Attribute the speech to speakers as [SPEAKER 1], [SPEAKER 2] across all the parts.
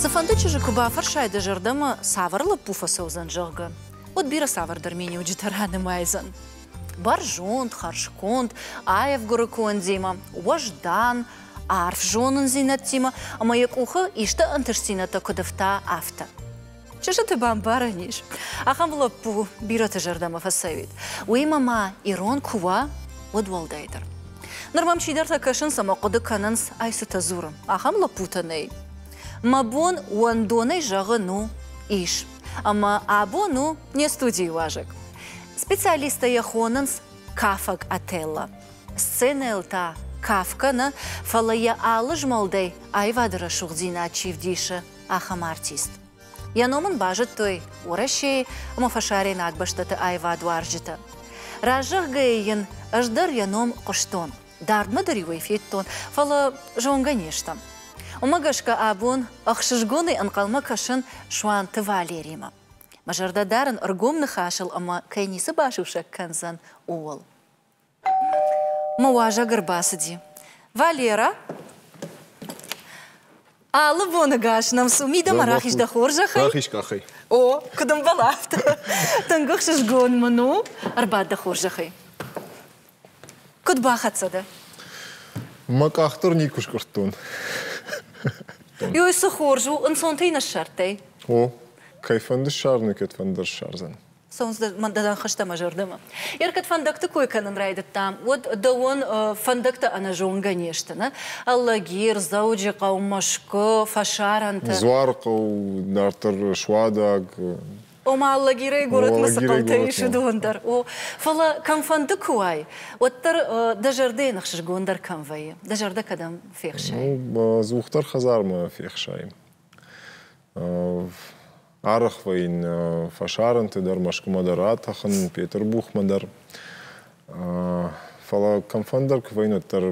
[SPEAKER 1] Цыфӕнды чызджы куы бафӕрсай дӕ зӕрдӕмӕ, цавӕр лӕппу фӕцӕудзӕн, зӕгъгӕ, уӕд бирӕ цавӕрдӕр миниуджытӕ ранымайдзӕн. Бӕрзонд, хӕрзконд, аевгуырыконд Дима, уӕздан, арф зонындзинӕдтимӕ ӕмӕ йӕ къухы исты ӕнтыстдзинӕдтӕ куыд ӕфта, афтӕ. Чызджыты бамбарӕн ис. Ахӕм лӕппу бирӕты зӕрдӕмӕ фӕцӕуид. Уыимӕ ма ирон куы уа, уӕд уӕлдайдӕр. Ныр мӕм чидӕртӕ кӕсынц ӕмӕ хъуыды кӕнынц, ай цытӕ дзуры, ахӕм лӕппутӕ нӕй. Мӕ бон уӕндонӕй зӕгъын у, ис. Ӕмӕ абон у не студийы уазӕг. Специалисттӕ йӕ хонынц кафӕг Отелло. Сценӕйыл та каф кӕны, фӕлӕ йӕ алы змӕлдӕй аивады рӕсугъддзинад чи вдисы, ахӕм артист. Йӕ ном ын базыдтой Уӕрӕсейы ӕмӕ фӕсарӕйнаг бӕстӕты аивадуарзджытӕ. Разӕгъгӕйы йын ӕз дӕр йӕ ном хъуыстон, дардмӕ дӕр-иу ӕй федтон, фӕлӕ зонгӕ не стӕм. Уымӕ гӕсгӕ абон ӕхсызгонӕй ӕнхъӕлмӕ кӕсын Суанты Валеримӕ. Мӕ зӕрдӕ дарын ӕргом ныхасыл ӕмӕ кӕй ницы басусӕг кӕндзӕн, ууыл. Мӕ уазӕг ӕрбацыди. Валера! Алы боныгас нӕм цу, мидӕмӕ рахиз дӕ хорзӕхӕй. Рахиз къахӕй. О, куыд ӕмбал афтӕ. Тынг ӕхсызгон мын у. Ӕрбад дӕ хорзӕхӕй. Куыд бахӕццӕ дӕ? Мӕ къах дӕр никуы скъуырдтон. Йой, цы хорз у, ӕнцонтӕй не ссардтай. О, кӕй фӕнды ссарыны, кӕд фӕндӕр ссардзӕн. хызтӕ мӕ зӕрдӕмӕ. Ӕркӕд фӕндӕгты кой кӕнын райдыдтам, уӕд дӕуӕн фӕндӕгтӕ ӕнӕзонгӕ не сты, нӕ? Алагир, Дзӕуджыхъӕу, Мӕскуы, фӕсарӕнтӕ. Дзуархъӕу дарддӕр суадаг. Ома Алагирӕй горӕтмӕ цы хъӕутӕ ис, уыдон дӕр. О, фӕлӕ кӕмфӕнды куы уай, уӕддӕр дӕ зӕрдӕйы ныхсызгондӕр кӕм вӕййы? Дӕ зӕрдӕ кӕдӕм фехсай? Ну, ӕдзухдӕр хӕдзармӕ фехсайын. Арӕхвӕ йын фӕсарӕнты дӕр, Мӕскуымӕ дӕр атӕхын, Петырбухмӕ дӕр. Фӕлӕ кӕмфӕндӕр кувӕйнӕт дӕр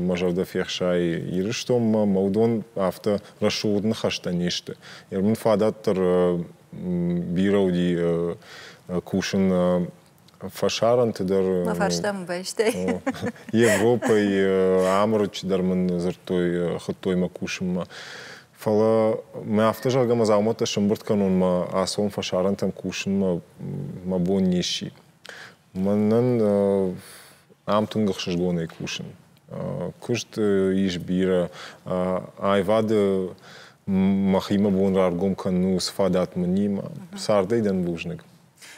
[SPEAKER 1] мӕ зӕрдӕ фехсайы Ирыстонмӕ, мӕ уыдон афтӕ рӕсугъд ныхӕстӕ не сты. Мын фадат дӕр бирӕ уыди кусын фӕсарӕнты дӕр. Мӕ фарстам байстай. Европӕйы Амырыччы дӕр мын дзырдтой, хуыдтой мӕ кусынмӕ. Фӕлӕ мӕ афтӕ зӕгъгӕ, мӕ дзаумӕттӕ сӕмбырд кӕнон мӕ ацон фӕсарӕнтӕм кусынмӕ мӕ бон не сси. Мӕнӕн ам тынг ӕхсызгонӕй кусын. Куыст ис бирӕ. Аивады мӕхимӕ бон раргом кӕнын у цы фадат мынимӕ. Цардӕй дӕн бузныг.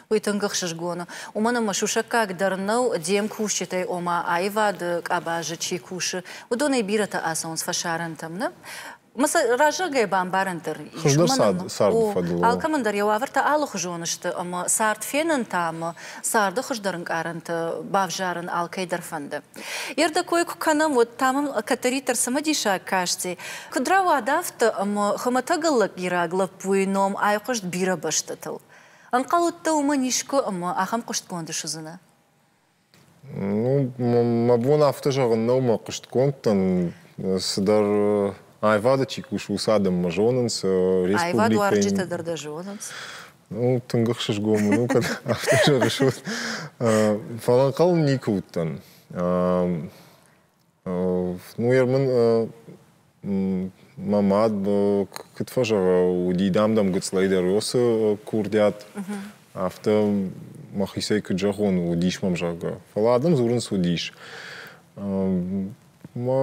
[SPEAKER 1] уый тынг ӕхсызгон у. Уымӕн ӕмӕ сусӕггаг дӕр нӕу, де мкусджытӕй, ома аивады къабазы чи кусы, уыдонӕй бирӕтӕ ацӕуынц фӕсарӕнтӕм, нӕ? Мы цы раззагӕй бамбарӕн дӕр ис. Хызгӕ царды фӕдыл. Алкӕмӕн дӕр йӕ уавӕртӕ алыхуызон сты, ӕмӕ цард фенын та ӕмӕ царды хуыздӕр ӕнкъарӕнтӕ бавзарын алкӕй дӕр фӕнды. Йе рдӕ кой куы кӕнӕм, уӕд та мӕм кӕддӕриддӕр цымыдисаг касти, куыд рауад афтӕ, ӕмӕ хуымӕтӕг ӕллӕппираг лӕппуйы ном айхъуыст бирӕ бӕстӕтыл. Ӕнхъӕл уыдтӕ уымӕн искуы ӕмӕ ахӕм хъуыстгонды суыдзынӕ? Ну, мӕ бон афтӕ зӕгъын нӕу мӕ хъуыстгонд дӕн. Цыдӕр аивады чи кусы, уыцы адӕммӕ зонынц. Аивадуарджытӕ дӕр дӕ зонынц. Ну, тынг ӕхсызгон мын у, кӕд афтӕ зӕгъыс. Фӕлӕ ӕнхъӕл никуы уыдтӕн. Ну, ер мын мӕ мад куыд фӕзӕгъа, уыди дам-дам гыццылӕй дӕр уыцы курдиат, афтӕ мӕхицӕй куыд зӕгъон, уыдис мӕм, зӕгъгӕ. Фӕлӕ адӕм дзурынц уыдис. Мӕ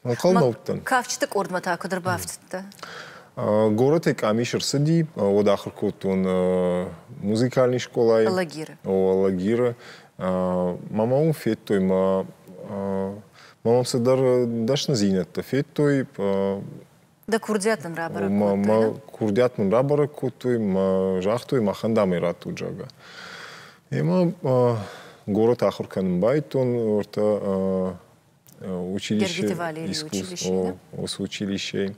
[SPEAKER 1] ӕнхъӕлмӕ Кафджыты къордмӕ та куыд ӕрбафтыдтӕ? Горӕтӕй къамис ӕрцыди, уӕд ахуыр кодтон музыкальный скъолайы. Алагиры. О, Алагиры. Мӕмӕ уым федтой мӕ мӕм цыдӕр дӕсныдзинӕдтӕ федтой. Дӕ курдиат дын рабӕрӕг кодтой? Мӕ курдиат мын рабӕрӕг кодтой, мӕ загътой, махӕн дам ӕй радтут, зӕгъгӕ. Мемӕ город ахуыр кӕнын байдтон ортӕ училище искусств, ос училищей.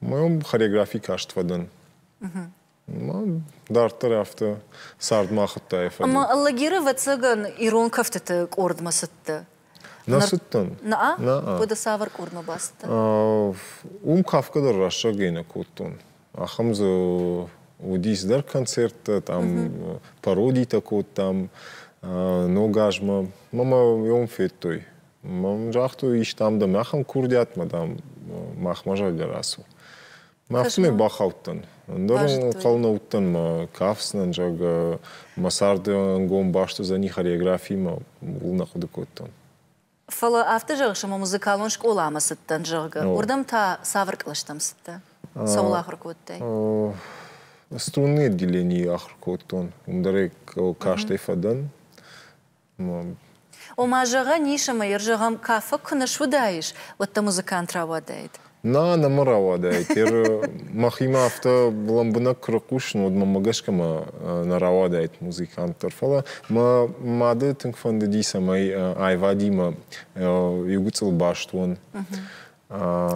[SPEAKER 1] Мӕм хореографи каст фӕдӕн. Дарддӕр афтӕ цардмӕ ахуыдтай фӕдыл. Ӕмӕ Аллагиры ӕвӕццӕгӕн ирон кӕфтыты къордмӕ цыдтӕ? Нӕ цыдтӕн. Наа? Наа. Уӕдӕ цавӕр къордмӕ бацыдтӕ? Уым кафгӕ дӕр рӕстӕгӕй нӕ кодтон. Ахӕм дзы уыди цыдӕр концерттӕ, там пародитӕ кодтам ног азмӕ. Мӕ ном федтой. Мӕм загътой, ис там дӕм ахӕм курдиатмӕ, дам, махмӕ зӕгъгӕ рацу. Афтӕмӕй бахаудтӕн. Ӕндӕр ӕнхъӕл нӕ уыдтӕн мӕ кафдзынӕн, зӕгъгӕ, мӕ царды ӕнгом баст уыдзӕни хореографимӕ, ууыл нӕ хъуыды кодтон. Фӕлӕ афтӕ зӕгъыс, ӕмӕ музыкалон скъоламӕ цыдтӕн, зӕгъгӕ, уырдӕм та цавӕр кълӕстӕм цыдтӕ? Цӕуыл ахуыр кодтай? Струнный отделенийы ахуыр кодтон, уым дӕр кастӕй фӕдӕн. Ома, зӕгъӕн ис ӕмӕ йӕ зӕгъӕм, кафӕг куы нӕ суыдаис, уӕд дӕ музыкант рауадаид? Нӕ, нӕ мӕ рауадаид. Теры мӕхимӕ афтӕ лӕмбынӕг куы рыхъусын, уӕд мӕнмӕ гӕсгӕ мӕ нӕ рауадаид музыкант дӕр. Фӕлӕ мӕ мады тынг фӕндыди, цӕмӕй аивадимӕ иу гыццыл баст уон.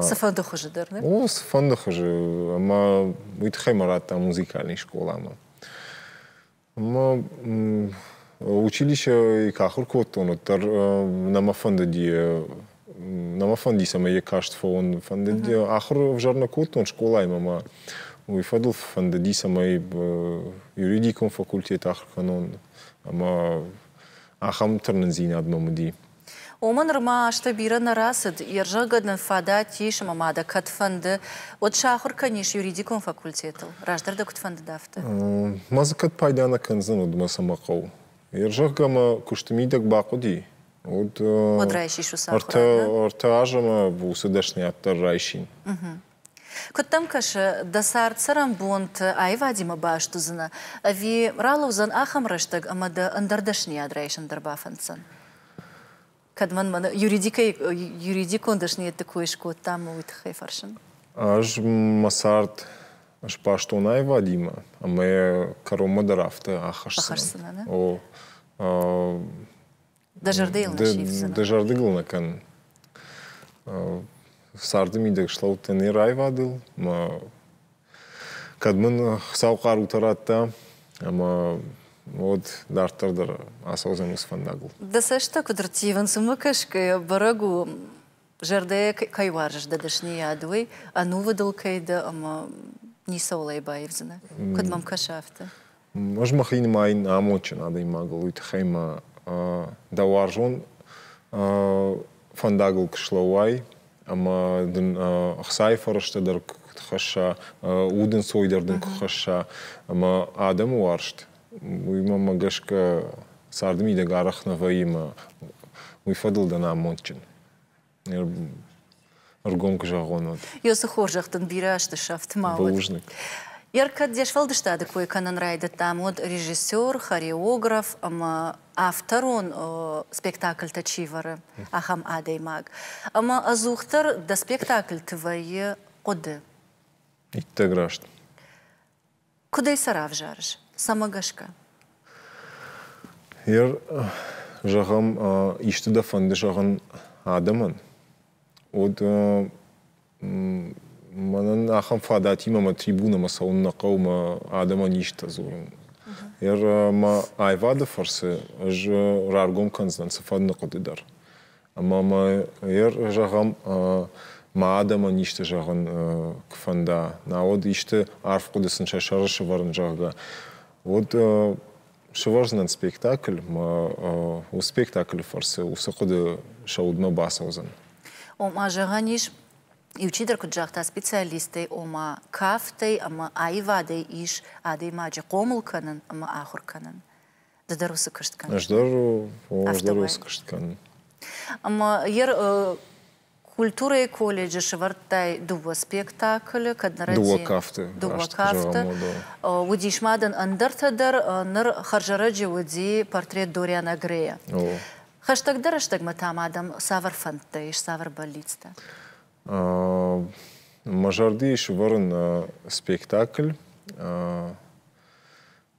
[SPEAKER 1] Цыфӕнды хуызы дӕр, нӕ? О, цыфӕнды хуызы. Ӕмӕ уый тыххӕй мӕ радта музыкалон скъоламӕ. Ма училищӕ ахур кодтон, уӕддӕр нӕмӕ фӕндыди нӕмӕ фӕндис ӕмӕ йӕ каст фӕуын. Фӕндыди, ахуыр ӕвзӕр нӕ кодтон скъолаймӕ ма уый фӕдыл фӕндыдис ӕмӕ юридикон факультет ахуыр кӕнон ӕмӕ ахӕм тырнындзинад мӕм уыди. Уымӕ нырма азтӕ бирӕ нӕ рацыд, йе рзӕггӕд нын фадат ис ӕмӕ ма дӕ кӕд фӕнды, уӕд сахуыр кӕнис юридикон факультетыл, раздӕр дӕ куыд фӕндыд, афтӕ. Ма дзы кӕд пайда нӕ кӕндзӕн, уӕд мӕ цӕмӕ хъӕуы? Йе рзӕгъгӕ ӕмӕ куысты мидӕг бахъуыди, уӕд. Уӕд райсис уыцы ӕртӕ азы ӕмӕ уыцы дӕсныйад дӕр райсин. Куыд дӕм кӕсы, дӕ цард-цӕрӕнбонты аивадимӕ баст уыдзынӕ, ӕви ралӕудзӕн ахӕм рӕстӕг ӕмӕ дӕ ӕндӕр дӕсныйад райсын дӕр бафӕнддзӕн? Кӕд мӕн мӕнӕ юридикон дӕсныйӕдты кой скодта, уый тыххӕй фӕрсын. Ӕз мӕ цард сбастон аивадимӕ, ӕмӕ кӕронмӕ дӕр афтӕ ахӕсдзынӕн. О, Дӕ зӕрдӕйыл нӕ сифдзынӕ? Дӕ зӕрдыгыл нӕ кӕнын. Царды мидӕг слӕудтӕ не раивадыл, мӕ кӕд мын Хуыцау хъарутӕ радта, ӕмӕ уӕд дарддӕр дӕр ацӕудзӕн уыцы фӕндагыл. Дӕ цӕстытӕ куыд рттивынц, уымӕ гӕсгӕ бӕрӕг у, Зӕрдӕ кӕй уарзыс дӕ дӕсныйад, уый ӕнувыдыл кӕй дӕ ӕмӕ ницӕуыл ӕй баивдзынӕ, куыд мӕм кӕсы, афтӕ. Ӕз мӕхи нымайын амондджын адӕймагыл, уый тыххӕй мӕ дӕ уарзон фӕндагыл куы слӕууай ӕмӕ дын ӕхцайы фӕрӕзтӕ дӕр куы хӕсса, уд ӕнцойдӕр дын куы хӕсса ӕмӕ адӕмы уарзт уыимӕ гӕсгӕ царды мидӕг арӕх нӕ вӕййы уый фӕдыл дӕн амондджын. Ӕргом куы зӕгъон, уӕд. Ёсы хорзӕх дын бирӕ азты сӕфт ма уӕд. Бузныг. Йӕ кӕд де сфӕлдыстады кой кӕнын райдыдтам, уӕд режиссер, хореограф ӕмӕ авторон спектакльтӕ чи вӕры, ахӕм адӕймаг. Ӕмӕ ӕдзухдӕр дӕ спектакльты вӕййы хъуыды. Иттӕг раст. Куыдӕй сӕ равзарыс? Цӕмӕ гӕсгӕ? Ер, зӕгъӕм, исты дӕ фӕнды зӕгъын адӕмӕн, уӕд мӕнӕн ахӕм фадатимӕ мӕ трибунӕмӕ цӕуын нӕ хъӕуы, мӕ адӕмӕн исты дзурын. Ер, мӕ аивады фӕрцы ӕз раргом кӕндзынӕн цыфӕнды хъуыды дӕр. Ӕмӕ ма йӕ зӕгъӕм, ма адӕмӕн исты зӕгъын куы фӕнда, науӕд исты арф хъуыды сын сӕ сӕры сӕвӕрын, зӕгъгӕ, уӕд сывӕрдзынӕн спектакль, мӕ уыцы спектаклы фӕрцы уыцы хъуыды сӕ удмӕ бацӕудзӕн. Ома, зӕгъӕн ис, иучидӕр куыд загъта специалисттӕй, ома, кафтӕй ӕмӕ аивадӕй ис адӕймаджы хъомыл кӕнын ӕмӕ ахуыр кӕнын. Ды дӕр уыцы куыст кӕныс? Ӕз дӕр ӕз дӕр уыцы куыст кӕнын. Ӕмӕ йӕ культурӕйы колледжы сӕвӕрдтай дыууӕ спектаклы, кӕд нӕрӕдзийӕ. Дыууӕ кафты. Дыууӕ кафты. Уыдис ма дын ӕндӕртӕ дӕр. Ныр хӕрзӕрӕджы уыди портрет Дориана Грея. Хӕстӕгдӕр рӕстӕгмӕ та ма дӕм цавӕр фӕндтӕ ис, цавӕр бӕллицтӕ? Мӕ зӕрдийы сӕвӕрын спектакль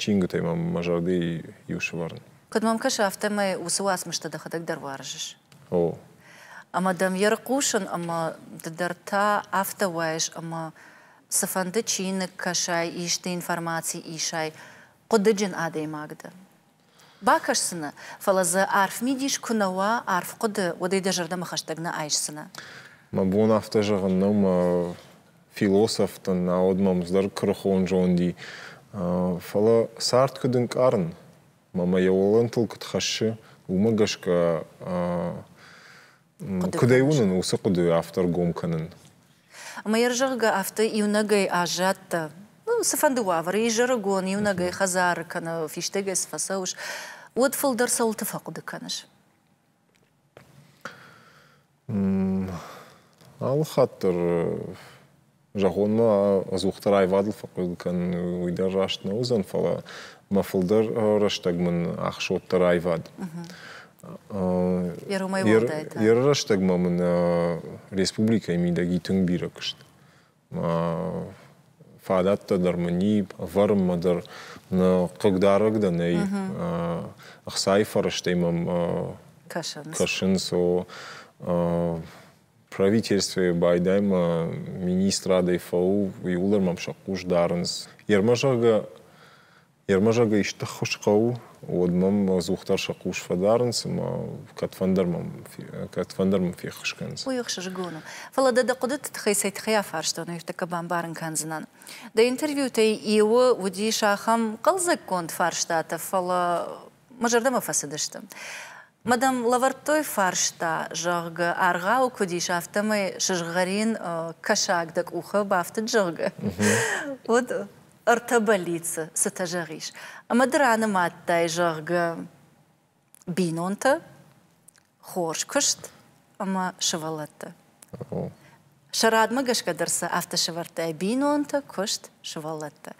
[SPEAKER 1] чингуытӕй мӕм мӕ зӕрдӕйы иу сывӕрын. Куыд мӕм кӕсы, афтӕмӕй уыцы уацмыстӕ дӕхӕдӕг дӕр уарзыс. О. Ӕмӕ дӕм йӕ рыхъусын ӕмӕ ды дӕр та афтӕ уайыс, ӕмӕ цыфӕнды чиныг кӕсай, исты информаци исай, хъуыдыджын адӕймаг дӕ. бакӕсдзынӕ, фӕлӕ дзы арф мидис куы нӕ уа, арф хъуыды, уӕд ӕй дӕ зӕрдӕмӕ хӕстӕг нӕ айсдзынӕ. Мӕ бон афтӕ зӕгъын нӕу, мӕ философ дын, науӕд мӕм зӕр куырыхон зонди. Фӕлӕ цард куыд ӕнкъарын, мӕ мӕ йӕ уылӕнтыл куыд хӕссы, уымӕ гӕсгӕ Куыдӕй уынын уыцы хъуыдыйы автор гом кӕнын? Ӕмӕ йӕ зӕгъгӕ, афтӕ иунӕгӕй аззадтӕ. Ну, цыфӕнды уавӕры, изӕрыгон, иунӕгӕй хӕдзары кӕнӕ фистӕгӕй цы фӕцӕуыс, уӕд фылдӕр цӕуылты фӕхъуыды кӕныс? Алы хатт дӕр Зӕгъон-ма, ӕдзухдӕр аивадыл фӕхъуыды кӕнын уый дӕр раст нӕ уыдзӕн, фӕлӕ мӕ фылдӕр рӕстӕг мын ахсодта аивад. Йӕ рӕстӕгмӕ мын республикӕйы мидӕги тынг бирӕ куыст. Фадӕттӕ дӕр мын и, ӕвӕрынмӕ дӕр нӕ хъыгдарӕг дӕ нӕй. Ӕхцайы фӕрӕзтӕй мӕм кӕсынц. Кӕсынц, о, Правительствӕйы байдаймӕ министрадӕй фӕу, иууылдӕр мӕм сӕ хъус дарынц. Йе рмӕ зӕгъгӕ, йе рмӕ зӕгъгӕ исты ххуыс хъӕуы, уӕд мӕм ӕдзухдӕр сӕ хъус фӕдарынц ӕмӕ кӕдфӕндӕр мӕм, кӕдфӕндӕр мӕм феххуыс кӕнынц. Уый ӕхсызгон у. Фӕлӕ дӕ дӕ хъуыдыты тыххӕй цӕй-тыххӕй афарстон, уырдыггӕ бамбарын кӕндзынӕн. Дӕ интервьютӕй иуы уыдис ахӕм хъӕлдзӕггонд фарстатӕ, фӕлӕ мӕ зӕрдӕмӕ фӕцыдысты. Мадам лӕвӕрдтой фарста, зӕгъгӕ, аргъауы куыд ис, афтӕмӕй сызгъӕрин кӕсаг дӕ къухы бафтыд, зӕгъгӕ, уӕд ӕртӕ бӕллицы цытӕ зӕгъис? Ӕмӕ ды ранымадтай, зӕгъгӕ, бинонтӕ, хорз куыст ӕмӕ сывӕллӕттӕ. Сӕ радмӕ гӕсгӕ дӕр сӕ афтӕ сӕвӕрдтай бинонтӕ, куыст, сывӕллӕттӕ.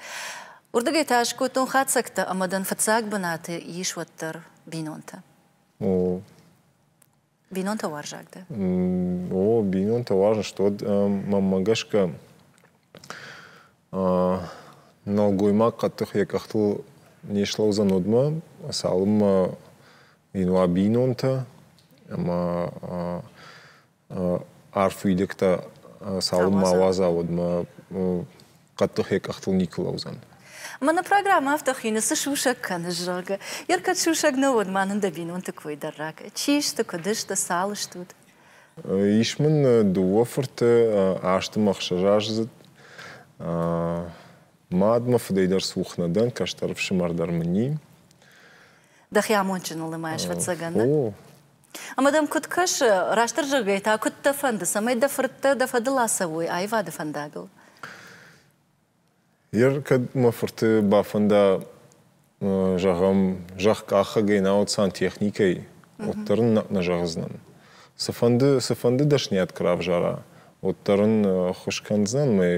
[SPEAKER 1] Уырдыгӕй та ӕз кодтон хатдзӕгтӕ ӕмӕ дын фыццаг бынаты ис уӕддӕр бинонтӕ. О. Бинонтӕ уарзаг дӕ? О, бинонтӕ уарзын сты. Уӕд мӕнмӕ гӕсгӕ нӕлгоймаг хъӕддых йӕ къӕхтыл не слӕудзӕн удмӕ, цалынмӕ йын уа бинонтӕ ӕмӕ арф уидӕгтӕ цалынмӕ ауадза, уӕдмӕ хъӕддыхӕй къӕхтыл никуы лӕудзӕн. Мӕнӕ программӕ афтӕ хины, цы сусӕг кӕныс, зӕгъгӕ. Йе ркӕд сусӕг нӕ уӕд, ма нын дӕ бинонты кой дӕр ракӕ. Чи сты, куыд сты, цал стут? Ис мын дыууӕ фырты, азты мӕ ӕхсӕз аздзыд. Мад мӕ фыдӕй дӕр цух нӕ дӕн, кӕстӕр ӕфсымӕр дӕр мын и. Дӕхи амондджыныл нымайыс, ӕвӕццӕгӕн, нӕ? О, Ӕмӕ дӕм куыд кӕсы, растдӕр зӕгъгӕй та, куыд дӕ фӕнды, цӕмӕй дӕ фырттӕ дӕ фӕдыл ацӕуой аивады фӕндагыл? Ер, кӕд мӕ фырты бафӕнда, зӕгъӕм, зӕхкъахӕгӕй, науӕд сантехникӕй, уӕддӕр ын нӕ зӕгъдзынӕн. Цыфӕнды, цыфӕнды дӕсниад куы равзара, уӕддӕр ын ӕххуыс кӕндзынӕн мӕ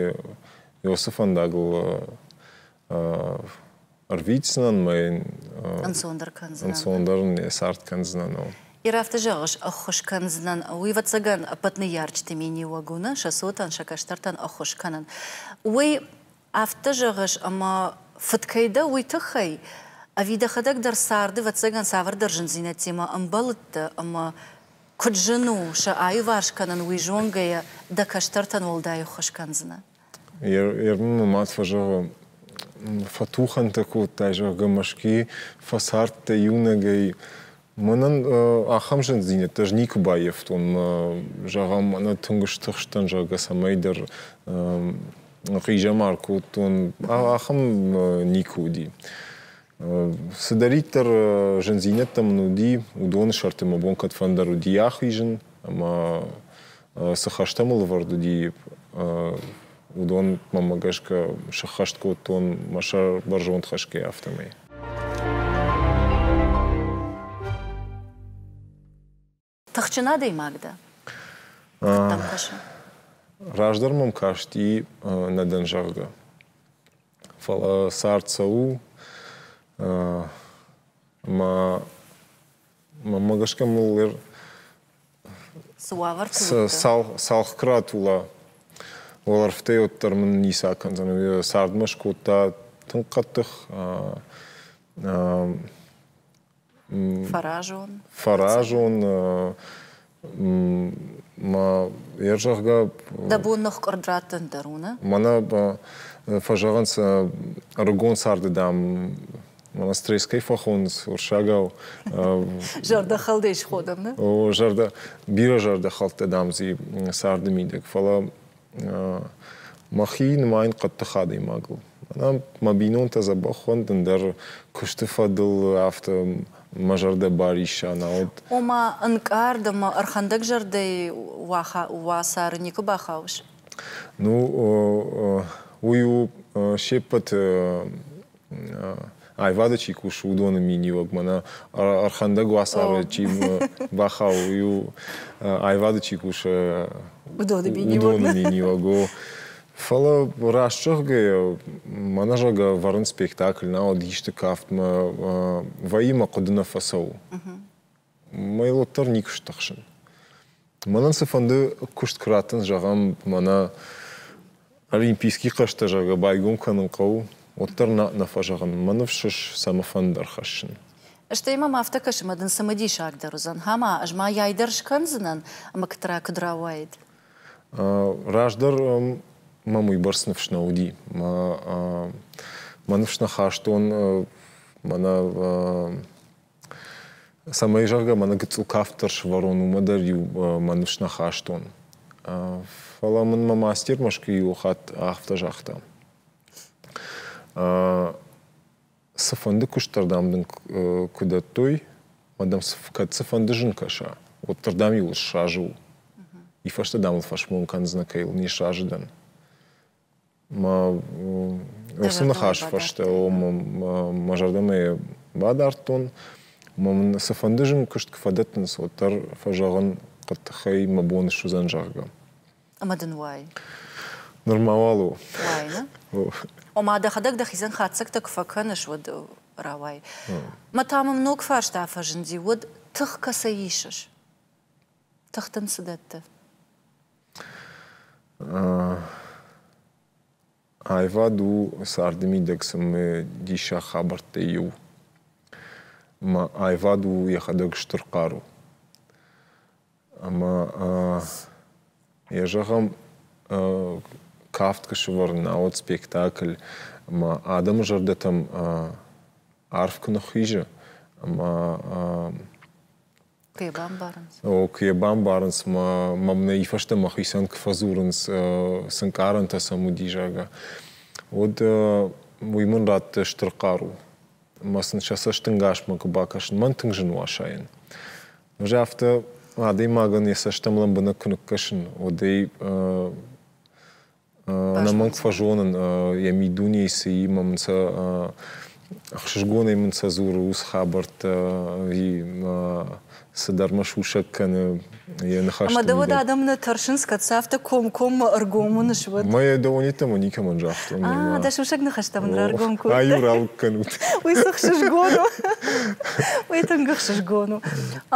[SPEAKER 1] Иосы фӕндагыл Ӕрвитдзынӕн мӕ ӕнцондӕр кӕндзынӕн. Ӕнцондӕр не цард кӕндзынӕн ау. Иры афтӕ зӕгъыс, ӕххуыс кӕндзынӕн. Уый, ӕвӕццӕгӕн, ӕппӕт ныййарджыты миниуӕг уыны, сӕ цотӕн, сӕ кӕстӕртӕн ӕххуыс кӕнын. Уый афтӕ зӕгъыс, ӕмӕ фыд кӕй дӕ, уый тыххӕй? Ӕви дӕхӕдӕг дӕр царды, ӕвӕццӕгӕн, цавӕрдӕр зындзинӕдтимӕ ӕмбӕлыдтӕ ӕмӕ, куыд зын у сӕ аиуварс кӕнын, уый зонгӕйӕ дӕ кӕстӕртӕн уӕлдай ӕххуыс кӕндзынӕ? Ермы мӕ мад фӕзӕгъы, фӕтухӕнтӕ кодтай, зӕгъгӕ, Мӕскуыйы фӕцардтӕ иунӕгӕй. Мӕнӕн ахӕм зындзинӕдтӕ ӕз никуы баййӕфтон. Зӕгъӕм, мӕнӕ тынг стыхст дӕн, зӕгъгӕ, цӕмӕйдӕр хъизӕмар кодтон. Ахӕм никуы уыди. Цыдӕриддӕр зындзинӕдтӕ мын уыди, уыдоны сӕрты мӕ бон кӕдфӕндӕр уыди ахизын ӕмӕ цы хӕстӕ мыл ӕвӕрд уыди, уыдонмӕ гӕсгӕ сыххӕст кодтон мӕ сӕр бӕрзонд хӕсгӕй, афтӕмӕй. Тыхджын адӕймаг дӕ? Кӕддӕм кӕсы? Раздӕр мӕм касти нӕ дӕн зӕгъгӕ. Фӕлӕ цард цӕуы, ӕмӕ Мӕнмӕ гӕсгӕ мыл ӕр... Цы уавӕр цалхкрат ула уӕлӕрвтӕй уӕддӕр мын ницы акӕндзӕн. Цардмӕ скодта тынг хъӕддых фӕразон фӕразон Ер зӕгъгӕ... Дӕ бон ныхкъуырд раттын дӕр у, нӕ? Мӕнӕ фӕзӕгъын сӕ ӕрыгон царды, дам, мӕнӕ стресс кӕй фӕхонынц уырыссагау. Зӕрдӕхӕлдӕй сходам, нӕ? О, зӕрдӕ... Бирӕ зӕрдӕхӕлдтӕ, дам, дзы царды мидӕг. Фӕлӕ мӕхи нымайын хъӕддых адӕймагыл. Мӕнӕ мӕ бинонтӕ дзӕбӕх фӕндын дӕр куысты фӕдыл, афтӕ мӕ зӕрдӕ барисса науӕд. Ома, ӕнкъард ӕмӕ ӕрхӕндӕгзӕрдӕйы уацары никуы бахауыс? Ну, уый у се ппӕты аивады чи кусы, уыдоны миниуӕг мӕнӕ ӕрхӕндӕг уацары чи бахауы, у аивады чи кусы, уыдоны миниуӕг. Уыдоны миниуӕг у. Фӕлӕ раст зӕгъгӕйӕ, мӕнӕ зӕгъгӕ ӕвӕрын спектакль науӕд исты кафтмӕ вӕййы мӕ хъуыды нӕ фӕцӕуы. Мӕ уӕддӕр никуы стыхсын. Мӕнӕн цыфӕнды куыст куы раттын, зӕгъӕм, мӕнӕ олимпийский хъӕзтӕ, зӕгъгӕ, байгом кӕнын хъӕуы, уӕддӕр нӕ нӕ фӕзӕгъын. Мӕ ныфс цӕмӕфӕнды ӕрхӕссын. Стӕй мӕм афтӕ кӕсы, ӕмӕ дын цымыдисагдӕр уыдзӕн. Ӕмӕ ӕз мӕйӕй дӕр скӕндзынӕн, мыгтра куыд рауайд. Раздӕр мӕм уыйбӕрц ныфс нӕ уыди. Мӕ ныфс нӕ хастон мӕнӕ Цӕмӕй зӕгъгӕ, мӕнӕ гыццыл кафт дӕр сӕвӕрон, уымӕ дӕр-иу мӕ ныфс нӕ хастон. Фӕлӕ мын мӕ мастер Мӕскуыйы иу хатт афтӕ загъта. Цыфӕнды куыстдӕр, дам, дын куы дӕттой, мӕ дам, кӕд цыфӕнды зын кӕса, уӕддӕр, дам, иуыл сразы у. И фӕстӕ, дам, ыл фӕсмон кӕндзынӕ, кӕй ыл не сразы дӕн. Уыцы ныхасы фӕстӕ мӕ зӕрдӕмӕ бадардтон, ӕмӕ мын цыфӕнды зын куыст куы фӕдӕттынц, уӕддӕр фӕзӕгъын, хъы тыхӕй мӕ бон суыдзӕн, зӕгъгӕ. Ӕмӕ дын уай? Нырма уал у. Уайны? Ома, дӕхӕдӕг дӕхицӕн хатдзӕгтӕ куы фӕкӕныс, уӕд рауай. Мӕ та мӕм ног фарста фӕзынди, уӕд тых кӕцӕй исыс? Тых дын цы дӕтты? Аивад у царды мидӕг цымы диссаг хабӕрттӕй иу. Ӕмӕ аивад у йӕхӕдӕг стыр хъару. Ӕмӕ йӕ зӕгъӕм, кафт куы сӕвӕрын, науӕд спектакль ӕмӕ адӕмы зӕрдӕтӕм арф куы ныххизы ӕмӕ Куы йӕ бамбарынц? О, куы йӕ бамбарынц, мӕ, мӕм нӕ фӕстӕ мӕхицӕн куы фӕдзурынц, цы нкъарӕнтӕ сӕм уыди, зӕгъгӕ, уӕд уый мын радты стыр хъару. Ӕмӕ сын сӕ цӕстӕнгасмӕ куы бакӕсын, мӕн тынг зын у асайын. Ӕз афтӕ адӕймагӕн йӕ цӕстӕм лӕмбынӕг куы ныккӕсын, уӕд ӕй Ӕнӕмӕнг фӕзонын йӕ миддунейы цыимӕ мын сӕ ӕхсызгонӕй мын сӕ дзуры ус хабӕрттӕ ӕви цыдӕр мӕ сусӕг кӕны йӕ ныхӕстӕ. Ӕмӕ дӕ уӕд адӕммӕ тӕрсынц, кӕд сӕ афтӕ комкоммӕ ӕргом уыныс, уӕд? Мӕ дӕуӕнйеддӕмӕ никӕмӕн загътон. А, дӕ сусӕг ныхӕстӕ мын раргом кодтай. Ай-иу ралыг кӕнут. Уый цы хсызгон у? Уый тынг хсызгон у.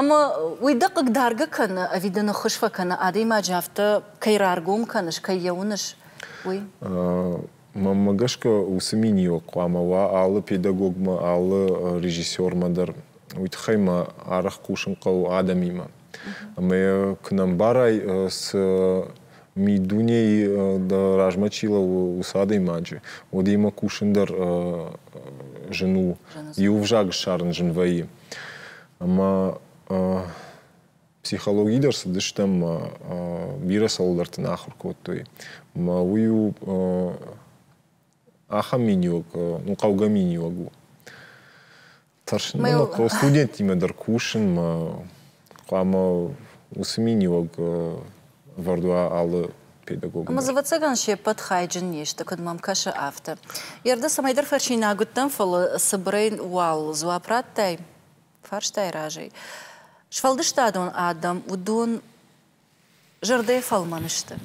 [SPEAKER 1] Ӕмӕ уый дӕ хъыгдаргӕ кӕны ӕви дӕ ныххуыз фӕкӕны, адӕймаджы афтӕ кӕй раргом кӕныс, кӕй йӕ уыныс, уый? Мӕнмӕ гӕсгӕ уыцы миниуӕг хъуамӕ уа алы педагогмӕ, алы режиссермӕ дӕр. Уый тыххӕй мӕ арӕх хъусын хъӕуы адӕмимӕ. Ӕмӕ йӕ куы нӕ мбарай, цы миддунейы дӕ размӕ чи лӕууы, уыцы адӕймаджы, уӕд йемӕ кусын дӕр зын у. Иу ӕвзаг ссарын зын вӕййы. Ӕмӕ Психологи дӕр цыдыстӕм, бирӕ цӕуылдӕрты нӕ ахуыр кодтой. Мӕ уый у ахӕм миниуӕг, ну, хъӕугӕ миниуӕг у. Тӕрсын, мӕ студенттимӕ дӕр кусынмӕ хъуамӕ уыцы миниуӕг ӕвӕрд уа алы педагог. Ӕмӕ дзы ӕвӕццӕгӕн се ппӕт хайджын не сты, куыд мӕм кӕсы, афтӕ. Йе рдӕ цӕмӕйдӕр фӕчинаг уыдтӕн, фӕлӕ цыбырӕй уал дзуапп радтай. фарстай разӕй. Сфӕлдыстадон адӕм уыдон зӕрдӕйы фӕлмӕн сты.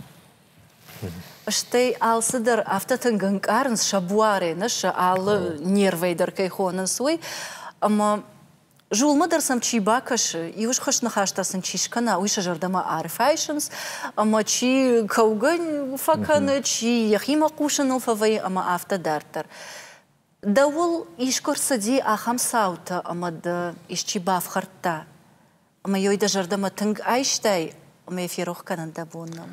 [SPEAKER 1] Стӕй алцыдӕр афтӕ тынг ӕнкъарынц, сӕ буарӕй нӕ сӕ алы нервӕй дӕр кӕй хонынц, уый. Ӕмӕ зулмӕ дӕр сӕм чи бакӕсы, иу схуыст ныхӕстӕ сын чи скӕна, уый сӕ зӕрдӕмӕ арфӕйсынц, ӕмӕ чи кӕугӕ фӕкӕны, чи йӕхимӕ хъусыныл фӕвӕййы ӕмӕ афтӕ дарддӕр. Дӕуыл искуы рцыди ахӕм цаутӕ, ӕмӕ дӕ исчи бафхӕрдта, ӕмӕ йой дӕ зӕрдӕмӕ тынг айстай, ӕмӕ йӕ ферох кӕнын дӕ бон нӕу?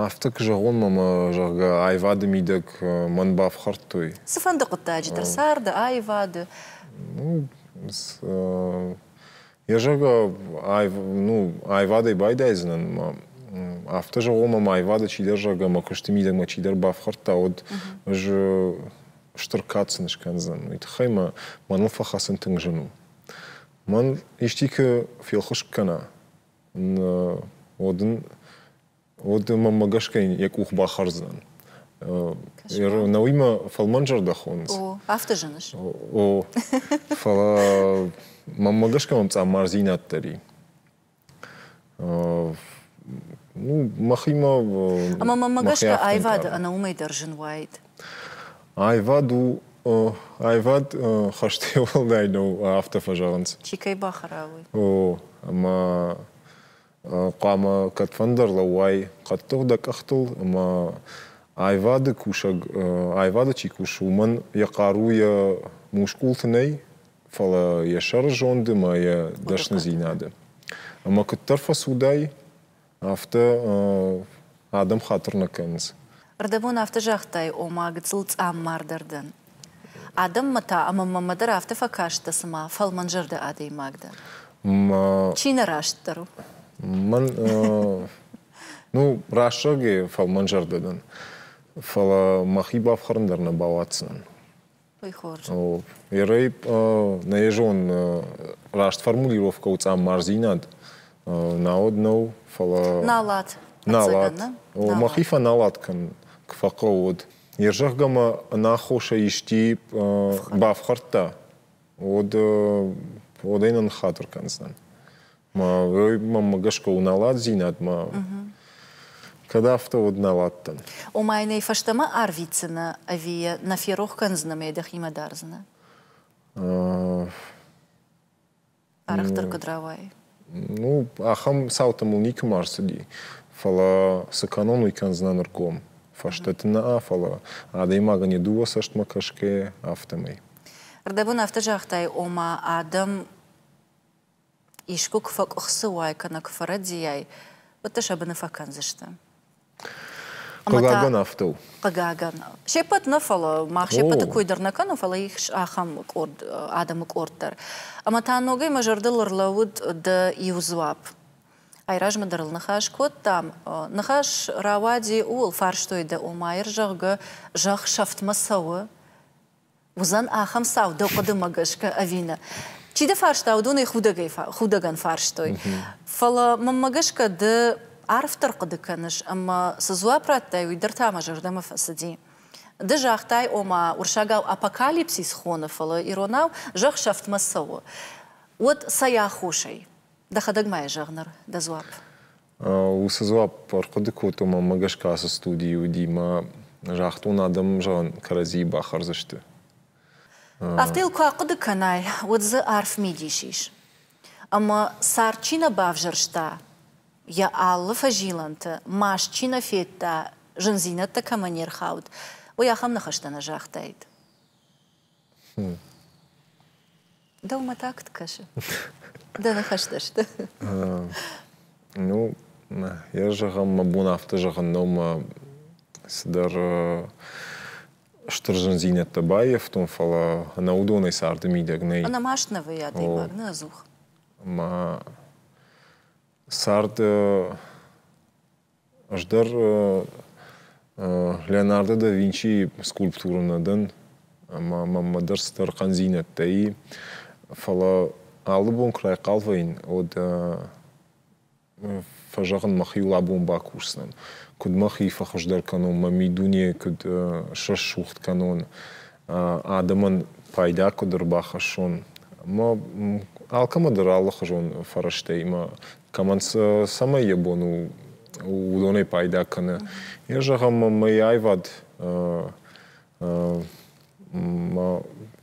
[SPEAKER 1] Афтӕ куы зӕгъон мӕмӕ, зӕгъгӕ, аивады мидӕг мӕн бафхӕрдтой. Цыфӕнды хъуыддаджы дӕр царды аивады. Ну, Йӕ зӕгъгӕ, аив, ну, аивадӕй байдайдзынӕн ма афтӕ зӕгъон, ӕмӕ аивады чидӕр зӕгъ ӕмӕ куысты мидӕгмӕ чидӕр бафхӕрдта, уӕд ӕз стыр кад сын скӕндзӕн. Уый тыххӕй мӕ мӕныл фӕхӕцын тынг зын у. Мӕн исчи куы фелхыскъ кӕна, уӕд ын уӕд мӕмӕ гӕсгӕ йын йӕ къух бахӕрдзӕн. Науимӕ фӕлмӕн зӕрдӕхонынц. О, афтӕ зыныс? О, фӕлӕ мӕмӕ гӕсгӕ мӕм цъаммардзинад дӕр и. Ну, махимӕ... Ӕмӕ мӕмӕ гӕсгӕ аивады ӕнӕ уымӕй дӕр зын уаид. Аивад у аивад хӕстӕй уӕлдай нӕу, афтӕ фӕзӕгъынц. Чи кӕй бахӕра, уый. О, ӕмӕ хъуамӕ кӕдфӕндӕр лӕууай хъӕддых дӕ къӕхтыл ӕмӕ аивады кусӕг аивады чи кусы, уымӕн йӕ хъару йӕ мускулты нӕй, фӕлӕ йӕ сӕры зонды ӕмӕ йӕ дӕсныдзинады. Ӕмӕ куыддӕр фӕцудай, афтӕ Адӕм хатыр нӕ кӕнынц. Ӕрдӕбон афтӕ загътай, ома гыццыл цъаммардӕр дӕн. Адӕммӕ та ӕмӕ мӕмӕ дӕр афтӕ фӕкаст дӕ, цыма фӕлмӕнзӕрдӕ адӕймаг дӕн. Мӕ. Чи нӕ растдӕр у? Мӕн. Ну, рӕстӕгӕй фӕлмӕнзӕрдӕ дӕн. Фӕлӕ мӕхи бафхӕрын дӕр нӕ бауадздзынӕн. Ерӕй нӕ зон раст формулировкӕ у цъаммардзинад науӕд нӕу, фӕлӕ налат. Налат. Мӕхи фӕналат кӕнын куы фӕхъӕуы уӕд. Йе зӕгъгӕ мӕ ӕнаххосӕй исти бафхӕрдта, уӕд уӕдӕй нӕ ныххатыр кӕндзынӕн. Мӕ гӕсгӕ уналадзинадмӕ кӕд афтӕ, уӕд нал адтӕн. Ома нӕ фӕстӕмӕ арвитдзынӕ ӕви йӕ нӕ ферох кӕндзынӕ мӕ дӕхимӕ дардзынӕ? Арӕхдӕр куыд рауайы? Ну, ахӕм цаутӕ мыл никӕмӕ ӕрцыди. Фӕлӕ цы кӕнон, уый кӕндзынӕн ӕргом. Фӕстӕты нӕ, фӕлӕ адӕймагӕн йӕ дыууӕ цӕстмӕ кӕсгӕйӕ, афтӕмӕй. Рдӕбон афтӕ загътай, ома адӕм Искуы куы фӕкъуыхцы уай кӕнӕ куы фӕрӕдийай, уӕд дӕ сӕ быны фӕкӕндзысты. Хъыгагӕн афтӕ у. Хъыгагӕн. Се ппӕт нӕ, фӕлӕ мах се ппӕты кой дӕр нӕ кӕнӕм, фӕлӕ ис ахӕм къорд адӕмы къорд дӕр. Ӕмӕ та ногӕй мӕ зӕрдыл ӕрлӕууыд дӕ иу дзуапп. Айразмӕ дӕр ыл ныхас кодтам. Ныхас рауади ууыл, фарстой дӕ, ома, ир, зӕгъгӕ, зӕхх сӕфтмӕ цӕуы, уыдзӕн ахӕм цау дӕ хъуыдымӕ гӕсгӕ ӕви нӕ? Чи дӕ фарста, уыдонӕй худӕгӕй худӕгӕн фарстой. Фӕлӕ мӕнмӕ гӕсгӕ ды арфдӕр хъуыды кӕныс ӕмӕ цы дзуапп радтай, уый дӕр та мӕ зӕрдӕмӕ фӕцыди. Ды загътай, ома, уырсагау апокалипсис хоны, фӕлӕ иронау зӕхх сӕфтмӕ цӕуы. Уӕд цӕй аххосӕй? Дӕхӕдӕг ма йӕ зӕгъ ныр, дӕ дзуапп. Уыцы дзуапп ӕрхъуыды кодтон, мӕнмӕ гӕсгӕ ацы студийы уыди мӕ загътон адӕм, зӕгъын, кӕрӕдзийы бахӕрдзысты. Афтӕ йыл куы ахъуыды кӕнай, уӕд дзы арф мидис ис. Ӕмӕ цард чи нӕ бавзӕрста, йӕ алы фӕзилӕнты маст чи нӕ федта, зындзинӕдтӕ кӕмӕ не рхауд, уый ахӕм ныхӕстӕ нӕ загътаид. Дӕумӕ та куыд кӕсы? Дӕ ныхӕстӕ сты? Ну, йӕ зӕгъӕн, мӕ бон афтӕ зӕгъын нӕу, мӕ цыдӕр стыр зындзинӕдтӕ баййӕфтон, фӕлӕ ӕнӕ уыдонӕй царды мидӕг нӕй. Ӕнӕ маст нӕ вӕййы адӕймаг, нӕ ӕдзух. Ӕмӕ цард Ӕз дӕр Леонардо да Винчийы скульптурӕ нӕ дӕн, ӕмӕ мӕнмӕ дӕр цыдӕр хъӕндзинӕдтӕ и, фӕлӕ алы бон куы райхъал вӕййын, уӕд фӕзӕгъын, мӕхиуыл абон бакусдзӕн, куыд мӕхи фӕхуыздӕр кӕнон, мӕ мидуне куыд срӕсугъд кӕнон, адӕмӕн пайда куыд ӕрбахӕссон. Ӕмӕ алкӕмӕ дӕр алыхуызон фӕрӕзтӕй мӕ Кӕмӕн цӕмӕй йӕ бон у, уыдонӕй пайда кӕны. Йӕ зӕгъӕм, мӕй аивад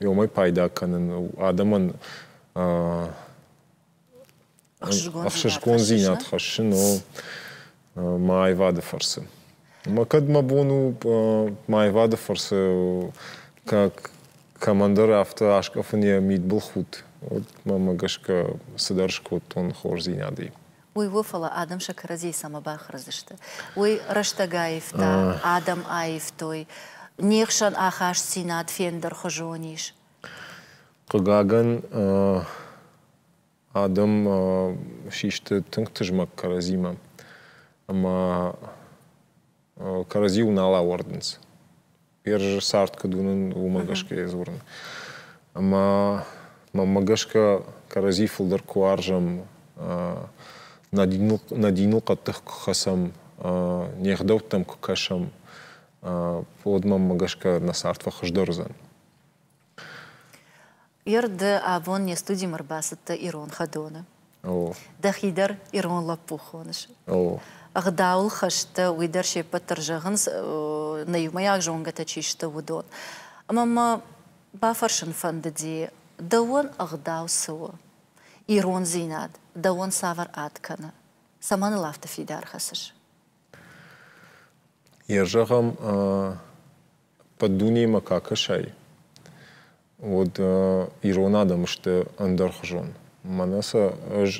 [SPEAKER 1] уымӕй пайда кӕнын адӕмӕн ӕхсызгондзинад хӕссын у мӕ аивады фӕрцы. Ӕмӕ кӕд мӕ бон у мӕ аивады фӕрцы как командир афтӕ аскъӕфын йӕ мидбылхудт, уӕд мӕмӕ гӕсгӕ цыдӕр скодтон хорздзинадӕй. Уый у, фӕлӕ адӕм сӕ кӕрӕдзийы цӕмӕ бахӕрдзысты? Уый рӕстӕг аивта, адӕм аивтой. Не хсӕн ахастдзинад фендӕрхуызон ис. Хъыгагӕн, адӕм систы тынг тызмӕг кӕрӕдзимӕ ӕмӕ кӕрӕдзиуыл нал ауӕрдынц. Персы цард куыд уынын, уымӕ гӕсгӕ я дзурын. Ӕмӕ мӕнмӕ гӕсгӕ кӕрӕдзи фылдӕр куы уарзӕм, нӕ диныл, нӕ диныл хъӕддых куы хӕцӕм, не гъдӕуттӕм куы кӕсӕм, уӕд мӕнмӕ гӕсгӕ нӕ цард фӕхуыздӕр уыдзӕн. Ерды абон не студимӕ рбацыдтӕ ирон хӕдоны. Дӕхи дӕр ирон лӕппу хоныс. Ӕгъдауыл хӕстӕ, уый дӕр се ппӕт дӕр зӕгъынц, нӕ иумӕйаг зонгӕтӕ чи сты, уыдон. Ӕмӕ мӕ бафӕрсын фӕндыди, дӕуӕн ӕгъдау цы у? Ирондзинад дӕуӕн цавӕр ад кӕны? Цӕмӕн ыл афтӕ фидар хӕцыс? Йӕ зӕгъӕм, Под дунеймӕ ка кӕсай, уӕд ирон адӕм сты ӕндӕрхуызон. Мӕнӕ сӕ ӕз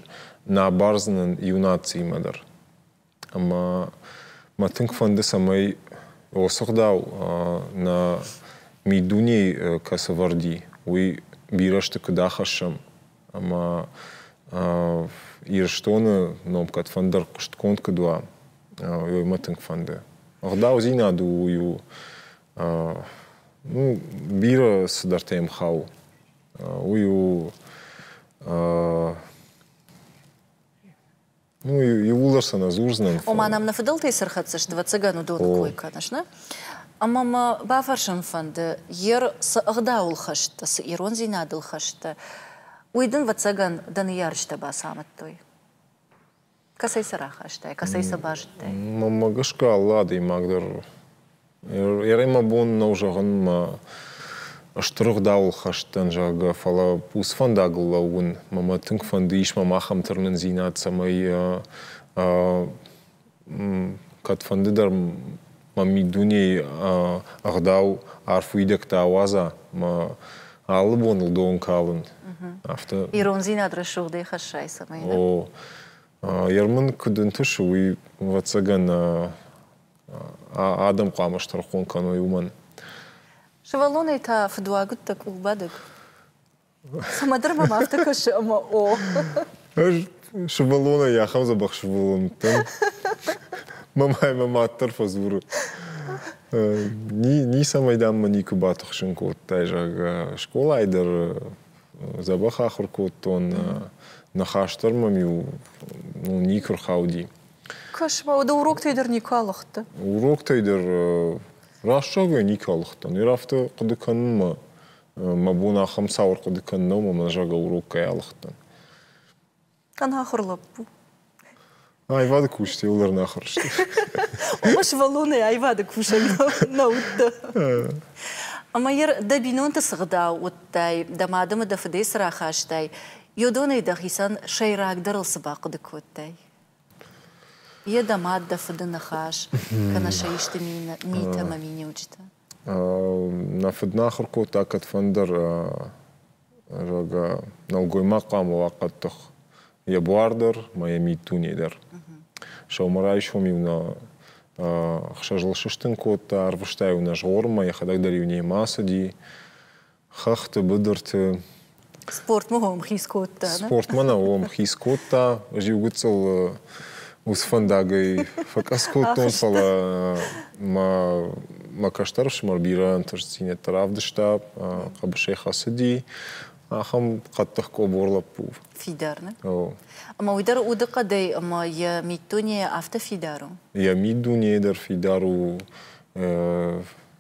[SPEAKER 1] нӕ бардзынӕн иу нациимӕ дӕр. Ӕмӕ мӕ тынг фӕнды, цӕмӕй уыцы гъдау нӕ миддунейы кӕцы вӕрди, уый бирӕ сты куыд ахӕссӕм, ӕмӕ Ирыстоны ном кӕдфӕндӕр хъуыстгонд куыд уа, уый мӕ тынг фӕнды. Ӕгъдаудзинад у, у ну, бирӕ цыдӕртӕ йӕм хауы. Уый у Ну, иууылдӕр сӕ нӕ дзурдзынӕн. Ома нӕм нӕ фыдӕлтӕй цы рхӕцдзысты, ӕвӕццӕгӕн уыдоны кой кӕныс, нӕ? Ӕмӕ мӕ бафӕрсын фӕнды, Ер, цы ӕгъдауыл хӕсттӕ, цы ирондзинадыл хӕсттӕ, уый дын, ӕвӕццӕгӕн, дӕ ныййарджытӕ бацамыдтой? Кӕцӕй сӕ рахастай, кӕцӕй сӕ базыдтай? Мӕнмӕ гӕсгӕ алы адӕймаг дӕр Ӕрӕй мӕ бон нӕу зӕгъын мӕ стыр ӕгъдауыл хӕст дӕн, зӕгъгӕ, фӕлӕ уыцы фӕндагыл лӕууын мӕ тынг фӕнды ис мӕм ахӕм тырнындзинад, цӕмӕй кӕдфӕнды дӕр мӕ миддунейы ӕгъдау арф уидӕгтӕ ауадза мӕ алы боныл дон калын. Афтӕ. Ирондзинад рӕсугъдӕй хӕссай, цӕмӕй. О. Ермын куыд ӕнтысы, уый ӕвӕццӕгӕн адӕм хъуамӕ стӕрхон кӕной уымӕн. Сывӕллонӕй та фыдуаг уыдтӕ къулбадӕг. Цымӕдӕр мӕм афтӕ кӕсы, ӕмӕ о. Ӕз сывӕллонӕй ахӕм дзӕбӕх сывӕллон уыдтӕн. Мамӕ мӕ мад дӕр фӕдзуры. Ницӕмӕй, дам, мӕ никуы батыхсын кодтай, зӕгъгӕ. Скъолайы дӕр дзӕбӕх ахуыр кодтон. Ныхас дӕр мӕм-иу ну, никуы рхауди. Космоы уды уроктӕй дӕр никуы алыгъдтӕ? Уроктӕй дӕр раст зӕгъгӕ никуы алыгъдтӕн. Ир афтӕ хъуыды кӕнынмӕ мӕ бон ахӕм цауыр хъуыды кӕнын нӕу, мӕ зӕрдӕ урок кӕй алыгъдтӕн. Ӕнахуыр лӕппу. Аивады кусджытӕ уылӕрнахуыр сты. Ома сывӕллонӕй аивады кусӕг нӕ уыдтӕ. Ӕмӕ Ир дӕ бинонты цы гъдау уыдтай, дӕ мадымӕ дӕ фыдӕй цы рахастай, йодонӕй дӕхицӕн сӕйрагдӕрыл цы бахъуыды кодтай? Йе дӕ мад, дӕ фыды ныхас, кӕнӕ сӕ исты митӕ ӕмӕ миниуджытӕ? Нӕ фыд нӕ ахуыр кодта кӕдфӕндӕр, зӕгъгӕ, нӕлгоймаг хъуамӕ уа хъӕддых йӕ буар дӕр мӕ йӕ миддуне дӕр. Сӕумӕрайсом-иу нӕ ӕхсӕзыл сыстын кодта, ӕрвыста-иу нӕ згъорынмӕ, йӕхӕдӕг дӕр-иу немӕ ацыди. Хӕхты быдырты. Спортмӕ уӕм хиз кодта, не? Спортмӕ нӕ уӕм хиз кодта. Ӕз иу гыццыл уыцы фӕндагӕй фӕкъӕдз кодтон, фӕлӕ мӕ мӕ кӕстӕр ӕфсымӕр бирӕ ӕнтыстдзинӕдтӕ равдыста, хъӕбысӕй хӕцыди. Ахӕм хъӕддых къобор лӕппу. Фидар, нӕ? О. Ӕмӕ уый дӕр удыхъӕдӕй ӕмӕ йӕ миддунейӕ афтӕ фидар у? Йӕ миддунейӕ дӕр фидар у.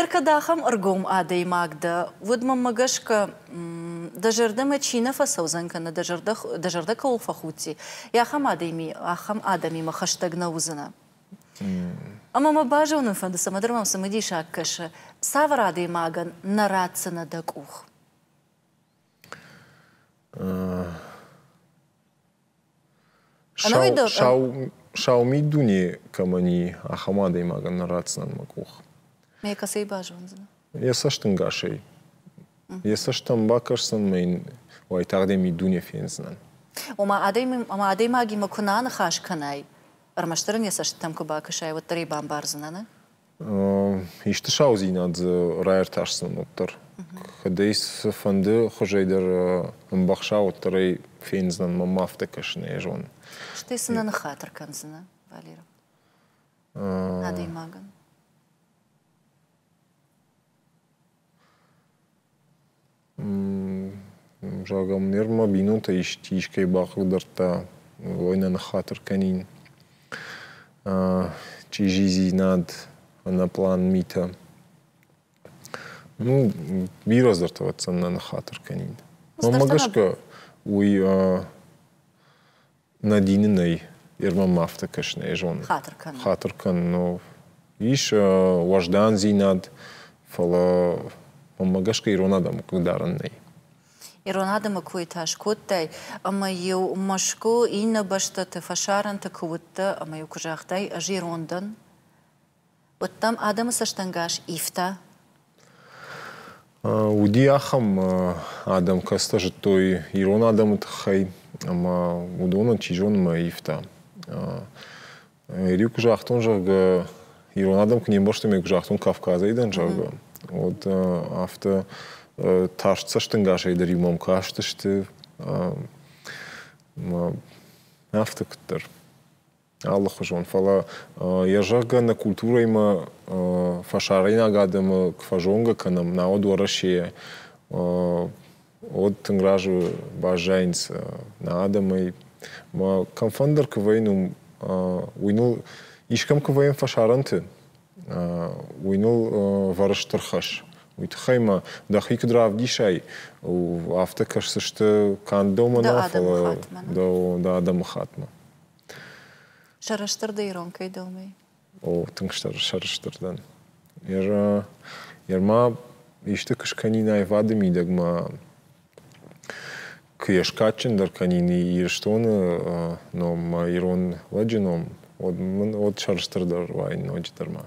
[SPEAKER 1] Еркӕд ахӕм ӕргом адӕймаг дӕ, уӕд мӕмӕ гӕсгӕ дӕ зӕрдӕмӕ чи нӕ фӕцӕудзӕн кӕнӕ дӕ зӕрдӕ, дӕ зӕрдӕ кӕуыл фӕхудти, ахӕм адӕми, ахӕм адӕмимӕ хӕстӕг нӕ уыдзынӕ. Ӕмӕ мӕ базонын фӕнды, цӕмӕдӕр мӕм цымыдисаг кӕсы, цавӕр адӕймагӕн нӕ ратдзынӕ дӕ къух? Сау миддуне кӕмӕн и, ахӕм адӕймагӕн нӕ ратдзынӕн мӕ къух. Мӕ кӕцӕй базондзынӕ? Йӕ цӕстӕнгасӕй. Йӕ цӕстӕм бакӕсдзӕн мӕ йын уайтагъд йӕ миддуне фендзынӕн. Ома, адӕймагимӕ куы нӕ аныхас кӕнай, ӕрмӕстдӕр ын йӕ цӕстытӕм куы бакӕсай, уӕддӕр ӕй бамбардзынӕ, нӕ? Исты саудзинад дзы раиртасдзӕн уӕддӕр. Кӕд ӕй цыфӕнды хуызӕй дӕр ӕмбӕхса, уӕддӕр ӕй фендзынӕн мӕм афтӕ кӕсын, ӕй зонын. Стӕй цы нӕ ныххатыр кӕндзынӕ, Валерий? Адӕймагӕн. Зӕгъӕм, нервмӕ бинонтӕ искӕй бахъыгдардта, уой нӕ ныххатыр кӕнин. Чъизидзинад, ӕнӕплан митӕ. Ну, бирӕ аздарты ӕвӕццӕн нӕ ныххатыр кӕнин. Мӕнмӕ гӕсгӕ, уый Нӕ дины нӕй, ирмӕ ма афтӕ кӕс, нӕ зонын. Хатыр кӕнын. Хатыр кӕнын. Ис уӕздандзинад, фӕлӕ мӕнмӕ гӕсгӕ ирон адӕмы хъыгдарын нӕй. Ирон адӕмы кой та скодтай, ӕмӕ-иу Мӕскуы иннӕ бӕстӕты фӕсарӕнты куы уыдтӕ ӕмӕ-иу куы загътай, ӕз ирон дӕн, Уыдтам адӕмы цӕстӕнгас ивтӕ? Уыди ахӕм адӕм, кӕцытӕ зыдтой ирон адӕмы тыххӕй ӕмӕ уыдонӕн, чи зоны, мӕ ивтӕ. Риу куы загътон, зӕгъгӕ, ирон адӕм куы не мбӕрстой, мӕ куы загътон Кавказӕй дӕн, зӕгъгӕ, уӕд афтӕ тарст цӕстӕнгасӕй дӕр-иу мӕм кастысты, афтӕ куыддӕр. алыхуызон. Фӕлӕ йӕ зӕгъгӕ нӕ культурӕимӕ фӕсарӕйнаг адӕмы куы фӕзонгӕ кӕнӕм, науӕд Уӕрӕсейӕ уӕд тынг разы баззайынц нӕ адӕмӕй. Мӕ кӕмфӕндыр куы вӕййын, уым уый ныл искӕм куы вӕййын фӕсарӕнты, уый ныл вӕры стыр хӕс. Уый тыххӕй ма дӕхи куыд равдисай, афтӕ кӕсдзысты канд дӕумӕ нӕ, фӕлӕ дӕ адӕмыхаттмӕ. дӕ адӕмыхаттмӕ. Сӕрыстыр дӕ ирон кӕй домай? О, тынг сӕрыстыр дӕн. Йӕ ма исты куы скӕнин аивады мидӕгмӕ, куы йӕ скадджындӕр кӕнин Ирыстоны номмӕ, ирон лӕджы ном, уӕд мын уӕд сӕрыстырдӕр уаин ноджыдӕр ма.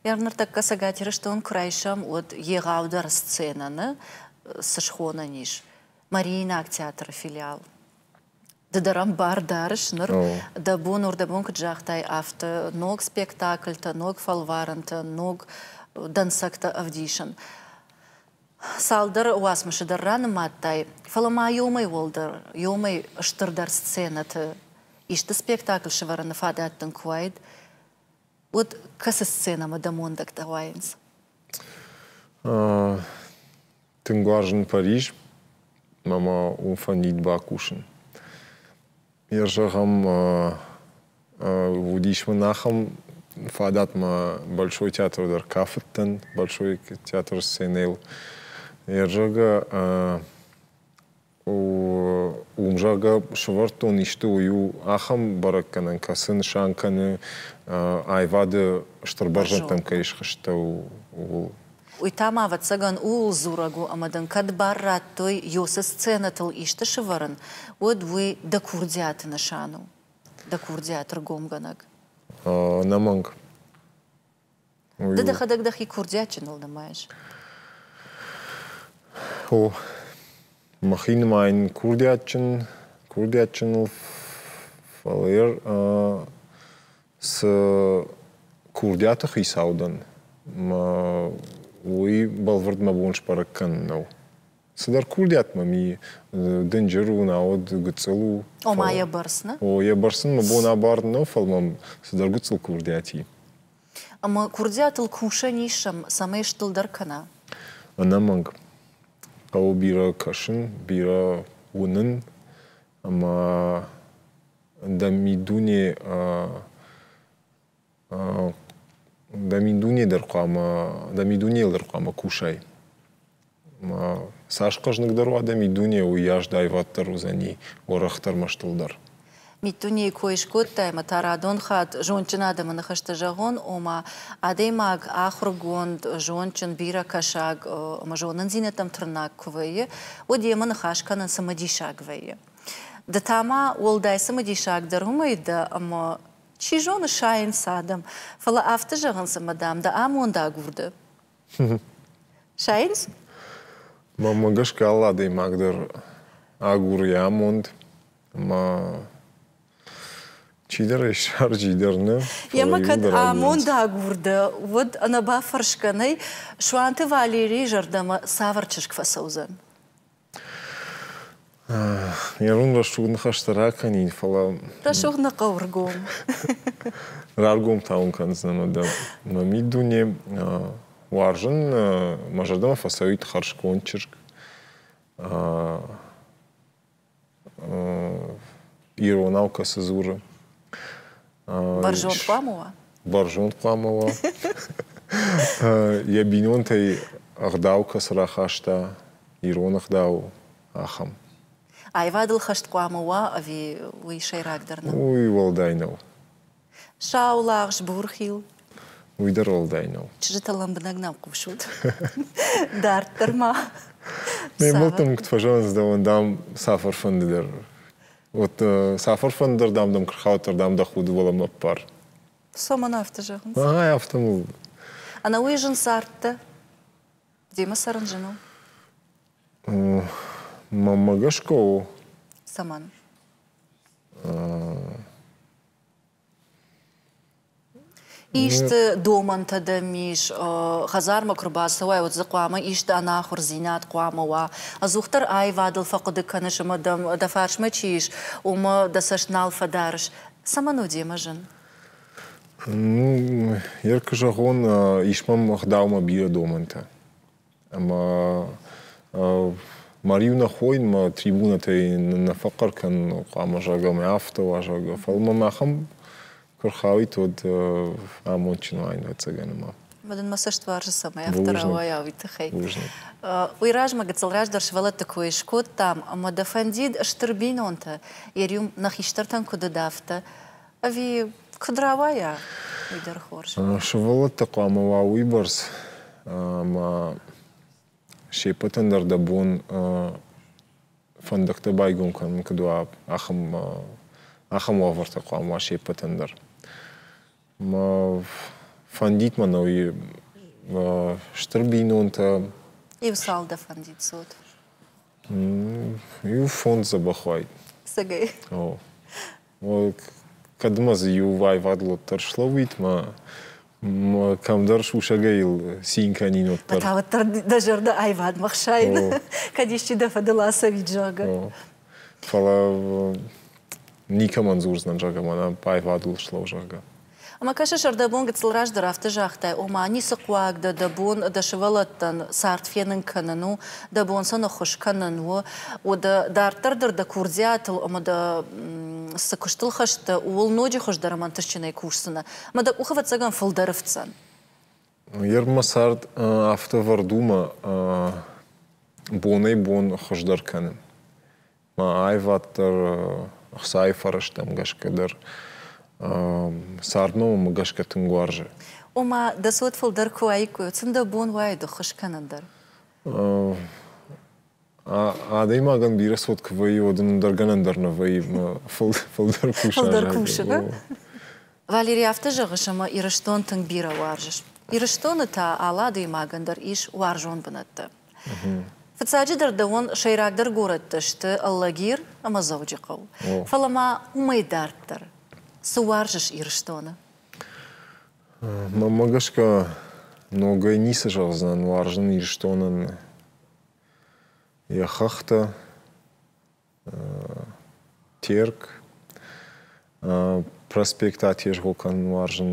[SPEAKER 1] Йӕ ныртӕккӕ Цӕгат Ирыстон куы райсӕм, уӕд егъаудӕр сценӕ нӕ цы схонӕн ис? Мариинаг театры филиал. Ды дӕр ам бар дарыс ныр. Дӕ бон уырдӕбон куыд загътай, афтӕ ног спектакльтӕ, ног фӕлварӕнтӕ, ног дӕнцӕгтӕ ӕвдисын. Цалдӕр уацмысы дӕр ранымадтай, фӕлӕ ма иомӕй уӕлдӕр, иомӕй стырдӕр сценӕты исты спектакль сӕвӕрыны фадат дын куы уаид, Вот кӕцы сценӕмӕ дӕ мондӕгтӕ уайынц? Тынг уарзын Париж ӕмӕ уым фӕнид бакусын. Йӕ зӕгъӕм, уыдис мын ахӕм фадатмӕ Большой театр дӕр кафыдтӕн, Большой театр сценӕйыл. Йӕ зӕгъгӕ, уым, зӕгъгӕ, сывӕрдтон исты уый у ахӕм бӕрӕггӕнӕн, кӕцы нысан кӕны аивады стыр бӕрзӕндтӕм кӕй схызтӕу, ууыл. Уый та ма, ӕвӕццӕгӕн, ууыл дзурӕг у, ӕмӕ дын кӕд бар радтой Йосы сценӕтыл исты сывӕрын, уӕд уый дӕ курдиаты нысан у, дӕ курдиат, ргомгӕнӕг. Ӕнӕмӕнг. Ды дӕхӕдӕг дӕхи курдиатджыныл нымайыс. О, махи нымайын курдиатджын, курдиатджыныл, фӕлӕ йӕ цы курдиаты хицау дӕн, уый бӕлвырд мӕ бон сбӕрӕг кӕнын нӕу. Цыдӕр курдиат мӕм и. Дынджыр у, науӕд гыццыл у. Ома йӕ бӕрц нӕ? О, йӕ бӕрц ын мӕ бон абарын нӕу, фӕлӕ мӕм цыдӕр гыццыл курдиат и. Ӕмӕ курдиатыл кусӕн ис, цӕмӕй стылдӕр кӕна? Ӕнӕмӕнг. Хъӕуы бирӕ кӕсын, бирӕ уынын ӕмӕ дӕ миддуне Дӕ миддуне дӕр хъуамӕ, дӕ миддунейыл дӕр хъуамӕ кусай. Цас хъӕзныгдӕр уа дӕ миддуне, уыйас аиваддӕр уыдзӕни, уӕрӕхдӕр ӕмӕ стылдӕр. Миддунейы кой скодтай ӕмӕ та радон хатт зондджын адӕмы ныхӕсты зӕгъон, ома, адӕймаг ахуыргонд, зондджын, бирӕкӕсӕг ӕмӕ зонындзинӕдтӕм тырнаг куы вӕййы, уӕд йемӕ ныхас кӕнын цымыдисаг вӕййы. Ды та ма уӕлдай цымыдисагдӕр уымӕй дӕ, ӕмӕ Чи зоны, сайынц адӕм, фӕлӕ афтӕ зӕгъынц, ӕмӕ, дам, дӕ амонд агурды. Сайынц? Мӕнмӕ гӕсгӕ алы адӕймаг дӕр агуры йӕ амонд, ӕмӕ чидӕр ӕй ссарджи дӕр нӕ. Йемӕ кӕд амонд агурды, уӕд ӕнӕбафӕрсгӕ нӕй, Суанты Валерийы зӕрдӕмӕ цавӕр чызг фӕцӕудзӕн? Ирон рӕсугъд ныхӕстӕ ракӕнин, фӕлӕ... Рӕсугъд нӕ хъӕуы ргом. Раргом та уын кӕндзынӕн дӕ мӕ миддуне. Уарзын мӕ зӕрдӕмӕ фӕцӕуид хӕрзконд чызг. иронау кӕцы дзуры. Бӕрзонд хъуамӕ уа? Бӕрзонд хъуамӕ уа. Йӕ бинонтӕй ӕгъдау кӕцы рахаста, ирон ӕгъдау, ахӕм. Аивадыл хӕст хъуамӕ уа ӕви уый сӕйрагдӕр нӕу? Уый уӕлдай нӕу. Сау лагъз, бурхил. Уый дӕр уӕлдай нӕу. Чызджыты лӕмбынӕг нӕм хъусут. Дарддӕр ма. Ме мбӕлттӕм куыд фӕзӕгъынц, дӕуӕн дам цафӕр фӕнды дӕр. Вот цафӕр фӕнды дӕр дам дӕм куы рхауд, дӕр дам дӕ худы уӕлӕмӕ аппар. Цоман афтӕ зӕгъынц. Ай афтӕ мыл. Ӕнӕуый зын цардтӕ? Демӕ цӕрын зын у? Маммӕ гӕсгӕ у. Цӕмӕн? Исты домӕнтӕ дӕм ис хӕдзармӕ куы рбацӕуай, уӕд дзы хъуамӕ исты ӕнахуырдзинад хъуамӕ уа. Ӕдзухдӕр аивадыл фӕхъуыды кӕныс ӕмӕ дӕм дӕ фарсмӕ чи ис, уымӕ дӕ цӕст нал фӕдарыс. Цӕмӕн у демӕ зын? Ну, як куы зӕгъон, ис мӕм ӕгъдаумӕ бирӕ домӕнтӕ. Ӕма мариу нӕ хойунмӕ трибунатӕй нӕ фӕхъхъӕр кӕнун хъуамӕ, зӕгъгӕ, мӕ афтӕ уа, зӕгъгӕ. Фал мӕм ахӕм куы рхауид, уӕд амондджын уаин, ӕцӕгӕн, ӕма. Ӕмӕ дын мӕ цӕст уарзы, цӕмӕй афтӕ рауайа уый тыххӕй. Уый размӕ гыццыл раздӕр сывӕллӕтты кой скодтам, ӕмӕ дӕ фӕндид стыр бинонтӕ, йӕ риу нӕ хистӕртӕн куыд уыд, афтӕ Ӕви куыд рауайа, уый дӕр хорз. Сывӕллӕтты хъуамӕ уа уыйбӕрц ӕмӕ се ппӕтӕн дӕр дӕ бон фӕндӕгтӕ байгом кӕнын куыд уа, ахӕм ахӕм уавӕртӕ хъуамӕ уа се ппӕтӕн дӕр. Фӕндид мӕ нӕуи стыр бинонтӕ. Иу цал дӕ фӕндид цот? Иу фондз дзӕбӕх уайд. Сагай. О. Кӕдмӕ дзы иу аивадыл дӕр слӕууид мӕ кӕмдӕр сусӕгӕй йыл цин кӕнин уӕддӕр. Та уӕддӕр дӕ зӕрдӕ аивадмӕ хсайын, кӕд исчи дӕ фӕдыл ацӕуид, зӕгъы. Фӕлӕ никӕмӕн дзурдзынӕн, зӕгъгӕ, мӕнӕ аивадыл слӕу, зӕгъгӕ. Ӕмӕ кӕсыс, ӕрдӕбон гыццыл раздӕр афтӕ загътай, ома, ницы хъуаг дӕ, дӕ бон дӕ сывӕллӕттӕн цард фенын кӕнын у, дӕ бон сӕ ныххуыс кӕнын у, дӕ дарддӕр дӕр дӕ курдиатыл ӕмӕ дӕ цы куыстыл хӕст дӕ, ууыл ноджы хуыздӕр ӕмӕ ӕнтыстджынӕй кусдзынӕ ӕмӕ дӕ къух ӕвӕццӕгӕн фылдӕр ифтдзӕн. Йе рмӕ цард афтӕ ӕвӕрд у мӕ бонӕй-бон хуыздӕр кӕнын. Аивад дӕр ӕхцайы фӕрӕзтӕм гӕсгӕ дӕр цардномы гӕсгӕ тынг уарзы. Ома, дӕ цот фылдӕр куы уаиккой, цын дӕ бон уаид ӕххуыс кӕнын дӕр? Адӕймагӕн бирӕ цот куы вӕййы, уӕд ын дӕр гӕнӕн дӕр нӕ вӕййы фылдӕр куса. Фылдӕр кусы, ба? Валери афтӕ зӕгъыс, ӕмӕ Ирыстон тынг бирӕ уарзыс. Ирыстоны та алы адӕймагӕн дӕр ис уарзон бынӕттӕ. Фыццаджыдӕр дӕуӕн сӕйрагдӕр горӕттӕ сты Алагир ӕмӕ Дзӕуджыхъӕу. Фӕлӕ ма уымӕй дарддӕр цы уарзыс Ирыстоны? Мӕнмӕ гӕсгӕ ногӕй ницы зӕгъдзынӕн уарзын Ирыстонӕн йӕ хӕхтӕ, Терк, проспекттӕ атезгъо кӕнын уарзын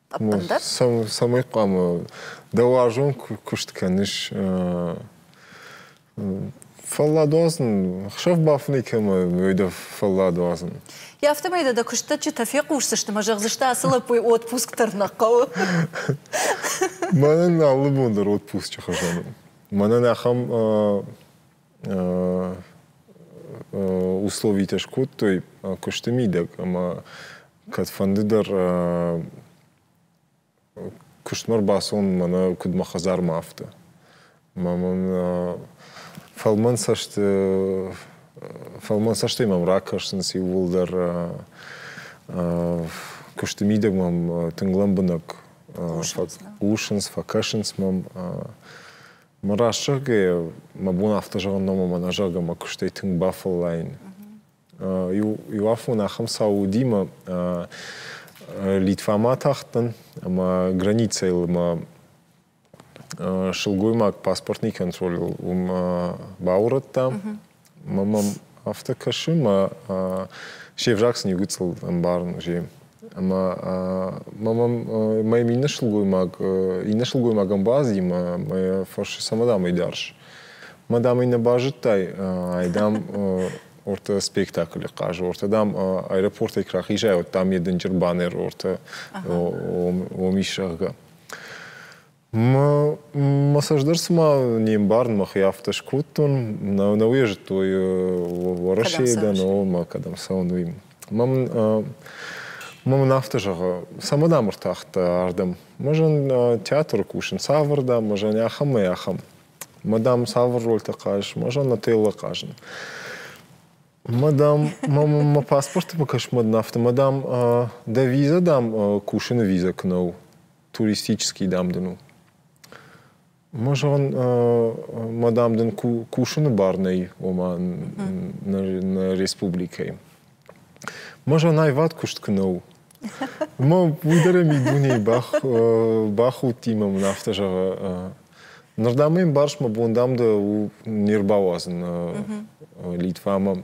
[SPEAKER 1] цӕмӕй хъуамӕ дӕ уарзон куыст кӕныс фӕлладуадзын хсӕв бафынӕй кӕмӕ дӕ фӕлладуадзын йӕ афтӕмӕй дӕ дӕ куыстӕджджытӕ фехъусдзысты мӕ зӕгъдзысты ацы лӕппуйы отпуск дӕр нӕ хъӕуы мӕнӕн алы бон дӕр отпусчы хуызӕн у мӕнӕн ахӕм условитӕ скодтой куысты мидӕг ӕмӕ кӕдфӕнды дӕр куыстмӕ рбацӕуын мӕнӕ куыд мӕ хӕдзармӕ афтӕ мӕ мын фӕлмӕн цӕсты фӕлмӕн цӕстӕй мӕм ракӕсынц иууылдӕр куысты мидӕг мӕм тынг лӕмбынӕг хъусынц фӕкӕсынц мӕм Мӕ раст зӕгъгӕйӕ, мӕ бон афтӕ зӕгъын нӕу, ӕмӕ мӕ зӕрдӕмӕ куыстӕй тынг бафӕллайын. Иу афон ахӕм цау уыди, мӕ Литвамӕ атахтӕн ӕмӕ границӕйыл мӕ сылгоймаг паспортный контроль уым баурӕдта. Мӕ мӕм афтӕ кӕсы, мӕ се взаг сын иу гыццыл ӕмбарын уызе. Ӕмӕ мӕ мӕм моим иннӕ сылгоймаг, иннӕ сылгоймагӕн базыди мӕ мӕ фӕрсы, цӕмӕ дӕм ӕй дарыс? Мӕ дам ӕй нӕ базыдтай, ай дам ортӕ спектаклы хъазы, ортӕ дам аэропортӕй куы рахизай, уӕд дам йӕ дынджыр банер ортӕ ом ис, зӕгъгӕ. Мӕ цӕстдӕр цыма не мбарын, мӕхи афтӕ скодтон. Нӕ, нӕ уе зыдтой Уӕрӕсейы дӕ, но мӕ кӕдӕм цӕуын, уый. Мӕм мӕн афтӕ зӕгъы, цӕмӕн ам ӕртахтӕ ардӕм? Мы зӕн театры кусын цавӕрдӕм, мы зӕн ахӕмӕй ахӕм. Мӕ дам цавӕр рольтӕ хъазыс, мы зӕн отеллы хъазын. Мӕ дам, мӕ паспортимӕ кӕсынмӕ дын афтӕ, мӕ дам, дӕ виза, дам, кусыны виза куы нӕ у. туристический дам дын у. Мажон, мадам дын кусыны бар нӕй, ома нӕ республикӕйы. Мажон аивад куыст куы нӕу, Ма уый дӕр ми дунейы бӕх бахудтимӕ мын афтӕ зӕгъы. Ныр дам мын барс мӕ бон дам дӕ у не рбауадзын Литва ӕмӕ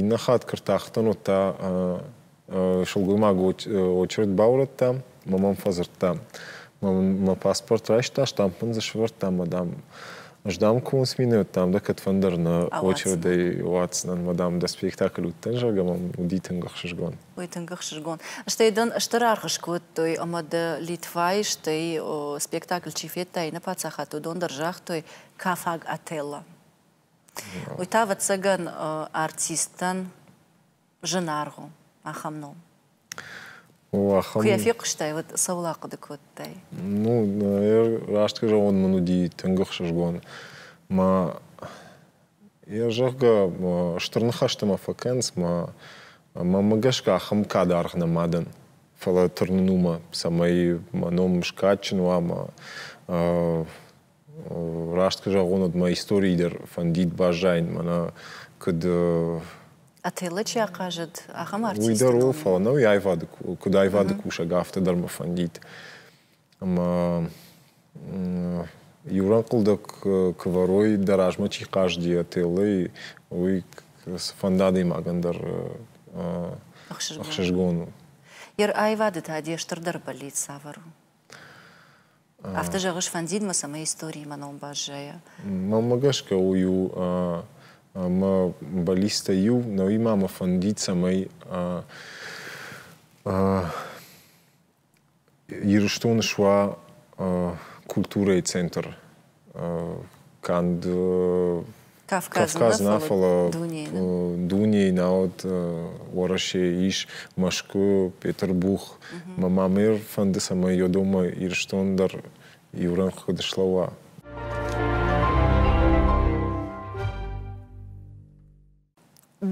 [SPEAKER 1] Иннӕ хатт куы ртахтӕн, уӕд та сылгоймаг очередь баурӕдтам ӕмӕ мӕм фӕдзырдта. Мӕ паспорт райста, штампын дзы сӕвӕрдта ӕмӕ, дам, ӕз, дам, комы цъминайы уыдтам, дӕ кӕдфӕндӕр нӕ очередӕй уадздзынӕн, мӕ, дам, дӕ спектакль уыдтӕн, зӕгъгӕ, мӕм уыди тынг ӕхсызгон. Ой, тынг ӕхсызгон. Стӕй дын стыр аргъ скодтой, ӕмӕ дӕ Литвайы, стӕй, спектакль чи федта, иннӕ паддзахадты уыдон дӕр загътой, кафаг Отелло. Уый та, ӕвӕццӕгӕн, артисттӕн зынаргъ у ахӕм ном. Куы йӕ фехъуыстай, уӕд цӕуыл ахъуыды кодтай? Ну, раст кӕрон мын уыди тынг ӕхсызгон. Мӕ йӕ зӕгъгӕ, стыр ныхӕстӕ ма фӕкӕнынц, мӕ мӕмӕ гӕсгӕ ахӕм кад аргъ нӕма дӕн. Фӕлӕ тырнын уымӕ, цӕмӕй мӕ ном скадджын уа, мӕ Раст куы зӕгъон, уӕд мӕ историйы дӕр фӕндид баззайын, мӕнӕ куыд Отелло чи ахъазыд, ахӕм артист. Уый дӕр у, фӕлӕ нӕ уый аивады, куыд аивады кусӕг, афтӕ дӕр мӕ фӕндид. Ӕмӕ иурӕнхъӕлдӕг куы вӕрой, дӕ размӕ чи хъазыди отеллӕй, уый фӕнды адӕймагӕн дӕр ӕхсызгон у. Йе аивады та де стырдӕр бӕллиц цавӕр у? Афтӕ зӕгъыс фӕндидмӕ, цӕмӕй историимӕ ном баззайа? Мӕнмӕ гӕсгӕ уый у ӕмӕ баллисттӕй иу, нӕуимӕ мӕ фӕнди, цӕмӕй Ирыстоны суа культурӕйы центр. канд Кавказ нӕ, фӕлӕ дунейы науӕд Уӕрӕсе ис Мӕскуы, Петербух. Мӕ ма мӕ фӕнды, цӕмӕй йӕ дома Ирыстон дӕр иу рӕнхъ куыд слӕууа.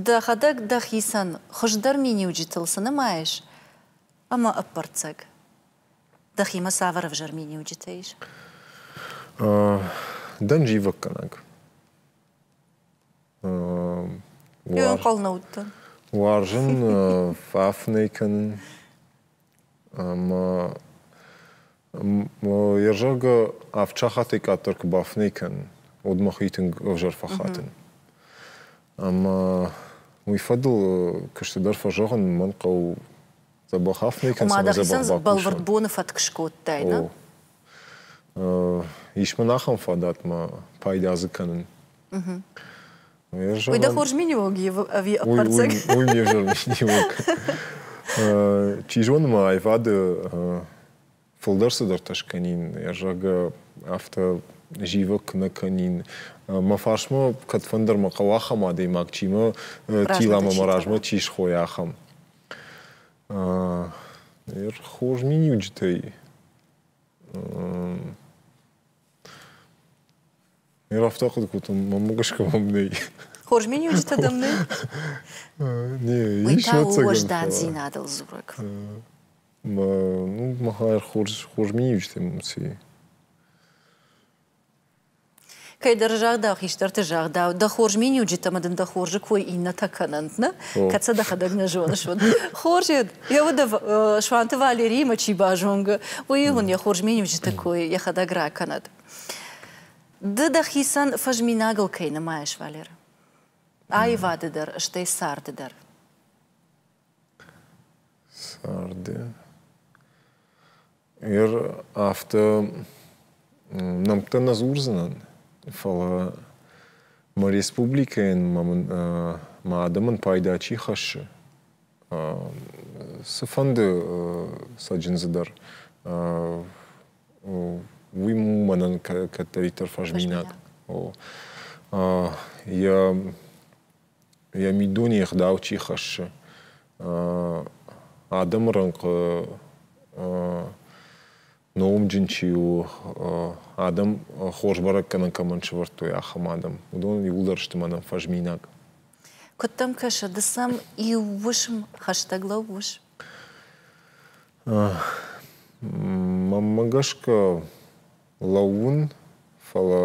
[SPEAKER 1] Дӕхӕдӕг дӕхицӕн хуыздӕр миниуджытыл цы нымайыс? Ӕмӕ ӕппӕрццӕг. Дӕхимӕ цавӕр ӕвзӕр миниуджытӕ ис? Дӕн зивӕггӕнӕг. Ӕнхъӕл нӕ уыдтӕн. Уарзын фӕф нӕ кӕнын. Ӕмӕ йӕ зӕгъгӕ, авд сахатӕй къаддӕр куы бафынӕй кӕнын, уӕд мӕхи тынг ӕвзӕр фӕхатын. Ӕмӕ уый фӕдыл куыстдӕр фӕзӕгъын мӕн хъӕуы Дзӕбӕх аф не кӕнӕм. Ӕмӕ дӕ бӕлвырд боны фӕтк скодтай, нӕ? Ис мын ахӕм фадатмӕ пайда дзы кӕнын. Уый дӕ хорз миниуӕг ӕви ӕппӕрцӕг? Уый не взӕр миниуӕг. Чи зоны ма аивады фылдӕр цыдӕртӕ скӕнин, йӕ зӕгъгӕ, афтӕ зивӕг куы нӕ кӕнин. Мӕ фарсмӕ кӕдфӕндӕр мӕ хъӕуы ахӕм адӕймаг, чи мӕ тила мӕ мӕ размӕ чи схойа, ахӕм. Хорз миниуджытӕй Ме рафтахъхъ кодтам, мӕм гӕсгӕ мӕм нӕй. Хорз миниуджытӕ дӕм нӕй? Не, ис ӕцӕгӕн. Уӕздандзинадыл дзурӕг. Ну, махӕй хорз миниуджытӕ муци. Кӕйдӕр загъдау, хистӕрты загъдау, дӕ хорз миниуджытӕ ӕмӕ дын дӕ хорзы кой иннӕтӕ кӕнӕнт, нӕ? Кӕд сӕ дӕхӕдӕг нӕ зоныс, уӕд. Хорзед, йӕ уд Суанты Валериимӕ чи базонгӕ, уый уын йӕ хорз миниуджыты кой йӕхӕдӕг ракӕнӕд. Ды дӕхицӕн фӕзминагыл кӕй нымайыс, Валеры? Аивады дӕр, стӕй царды дӕр. царды. Ир афтӕ нӕмттӕ нӕ дзурдзынӕн, фӕлӕ мӕ республикӕйӕн мӕ адӕмӕн пайда чи хӕссы, цыфӕнды цӕджындзыдӕр, уый мӕнӕн кӕддӕриддӕр фӕзминаг у. Йӕ йӕ миддуне ӕгъдау чи хӕссы, адӕмы рӕнхъы номджын чи у, адӕм хорз бӕрӕггӕнӕн кӕмӕн сӕвӕрдтой, ахӕм адӕм, уыдон иууылдӕр сты мӕнӕн фӕзминаг. Куыд дӕм кӕсы, ды сӕм иу уысм хӕстӕг лӕууыс? Мӕнмӕ гӕсгӕ лӕууын, фӕлӕ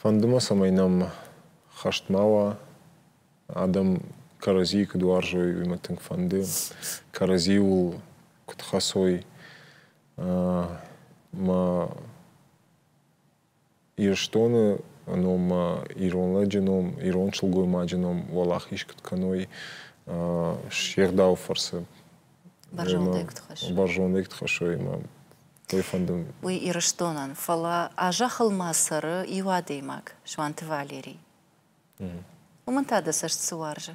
[SPEAKER 1] Фӕнды мӕ, цӕмӕй нӕм хӕст ма уа, адӕм кӕрӕдзийы куыд уарзой, уый мӕ тынг фӕнды. Кӕрӕдзиуыл куыд хӕцой мӕ Ирыстоны ном, мӕ ирон лӕджы ном, ирон сылгоймаджы ном уӕлахиз куыд кӕной се гъдауы фӕрцы. Бӕрзондӕй куыд хӕссой. Бӕрзондӕй куыд хӕссой мӕ Кӕй фӕнды уый. Уый Ирыстонӕн, фӕлӕ а зӕххыл ма цӕры иу адӕймаг, Суанты Валерий. Уымӕн та дӕ цӕст цы уарзы?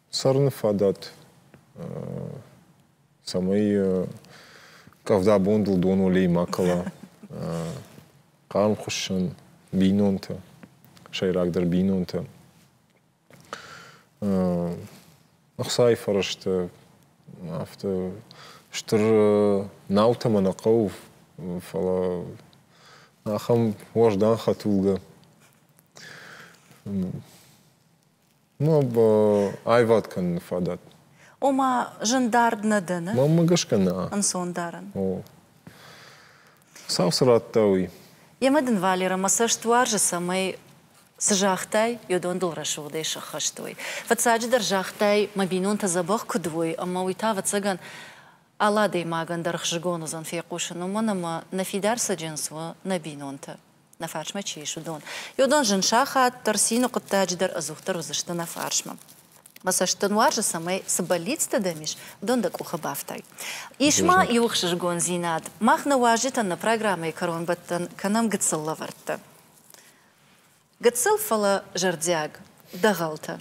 [SPEAKER 1] Цӕрыны фадат, цӕмӕй къӕвда бондыл донолей ма кӕла, хъарм хуыссын бинонты, сӕйрагдӕр бинонты. Ӕхцайы фӕрӕзты афтӕ стыр наутӕ мӕ нӕ хъӕуы, фӕлӕ ахӕм уӕздан хӕтулгӕ Ну, аивад кӕныны фадат. Ома, зын дард нӕ дӕны? Мӕнмӕ гӕсгӕ нӕ. Ӕнцондарӕн. О. Цау цы радта, уый. Йемӕ дын, Валерӕ, мӕ цӕст уарзы, цӕмӕй цы загътай, уыдон дыл рӕсугъдӕй сӕххӕст уой. Фыццаджыдӕр загътай, мӕ бинонтӕ дзӕбӕх куыд уой, ӕмӕ уый та, ӕвӕццӕгӕн, алы адӕймагӕн дӕр хзыгон уыдзӕн фехъусын, уымӕн ӕмӕ нӕ фидар цӕджындз у нӕ бинонты. нӕ фарсмӕ чи ис, уыдон. Уыдон зын сахат дӕр, цины хъуыддаджы дӕр ӕдзухдӕр уыдзысты нӕ фарсмӕ. Мӕ цӕст дын уарзы, цӕмӕй цы бӕллицтӕ дӕм ис, уыдон дӕ къухы бафтай. Ис ма иу ӕхсызгондзинад, мах нӕ уазджытӕн нӕ программӕйы кӕронбӕттӕн кӕнӕм гыццыл лӕвӕрттӕ. Гыццыл, фӕлӕ зӕрдиаг. Дӕгъӕлтӕ.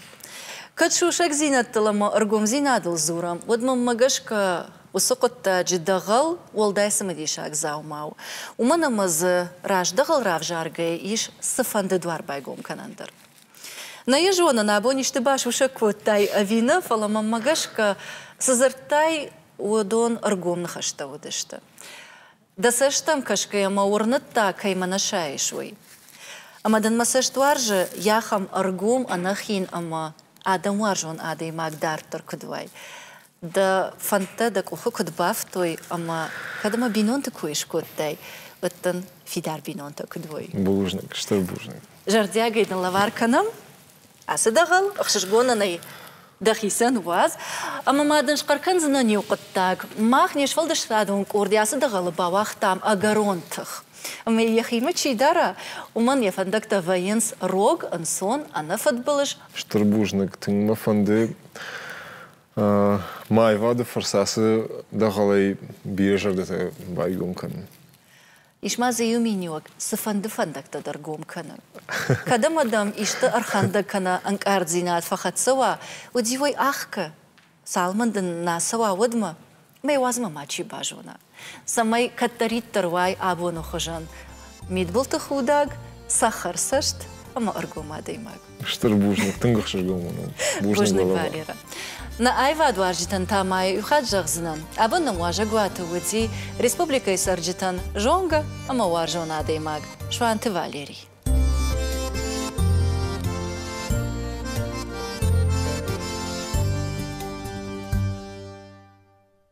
[SPEAKER 1] Кӕд сусӕгдзинӕдтыл ӕмӕ ӕргомдзинадыл дзурӕм, уӕд мӕнмӕ гӕсгӕ уыцы хъуыддаджы дӕгъӕл уӕлдай цымыдисаг дзаума у, уымӕн ӕмӕ дзы раздӕгъӕл равзаргӕйы ис цыфӕнды дуар байгом кӕнӕн дӕр. Нӕ йӕ зонын, абон исты басусӕг кодтай ӕви нӕ, фӕлӕ мӕнмӕ гӕсгӕ, цы дзырдтай, уыдон ӕргом ныхӕстӕ уыдысты. Дӕ цӕстӕм кӕсгӕйӕ мӕ уырныдта, кӕй мӕ нӕ сайыс, уый. Ӕмӕ дын мӕ цӕст уарзы, йӕхӕм ӕргом, ӕнӕхин ӕмӕ адӕмуарзон адӕймаг дарддӕр куыд уай. Дӕ фӕндтӕ дӕ къухы куыд бафттой ӕмӕ кӕд мӕ бинонты кой скодтай, уӕд дын фидар бинонтӕ куыд уой. Бузныг, стыр бузныг. Зӕрдиагӕй дын лӕвар кӕнӕм Ацы дӕгъӕл ӕхсызгон нӕй. Дӕхицӕн уадз, ӕмӕ ма дын схъӕр кӕндзынӕн иу хъуыддаг. Мах не сфӕлдыстадон къорд ацы дӕгъӕлы бауагътам ӕгӕрон тых. Ӕмӕ йӕхимӕ чи дара, уымӕн йӕ фӕндӕгтӕ вӕййынц рог, ӕнцон, ӕнӕфыдбылыз. Стыр бузныг, тынг мӕ фӕнды мӕ аивады фӕрцы ацы дӕгъӕлӕй бирӕ зӕрдӕтӕ байгом кӕнын. Ис ма дзы иу миниуӕг, цыфӕнды фӕндӕгтӕ дӕр гом кӕны. Кӕд ӕмӕ дӕм исты ӕрхӕндӕг кӕнӕ ӕнкъарддзинад фӕхӕццӕ уа, уӕд-иу ӕй ӕхкӕ, цалмӕн дын нӕ цӕуа, уӕдмӕ мӕ уадзмӕ мачи базона, цӕмӕй кӕддӕриддӕр уай абоны хуызӕн мидбылты худӕг, цӕхӕрцӕст ӕмӕ ӕргом адӕймаг. Стыр бузныг, тынг ӕхсызгон уынӕм. Бузныг, Валера. Нӕ аивадуарзджытӕн та ма йӕ иу хатт зӕгъдзынӕн, абон нын уазӕгуаты уыди республикӕйы цӕрджытӕн зонгӕ ӕмӕ уарзон адӕймаг Суанты Валерий.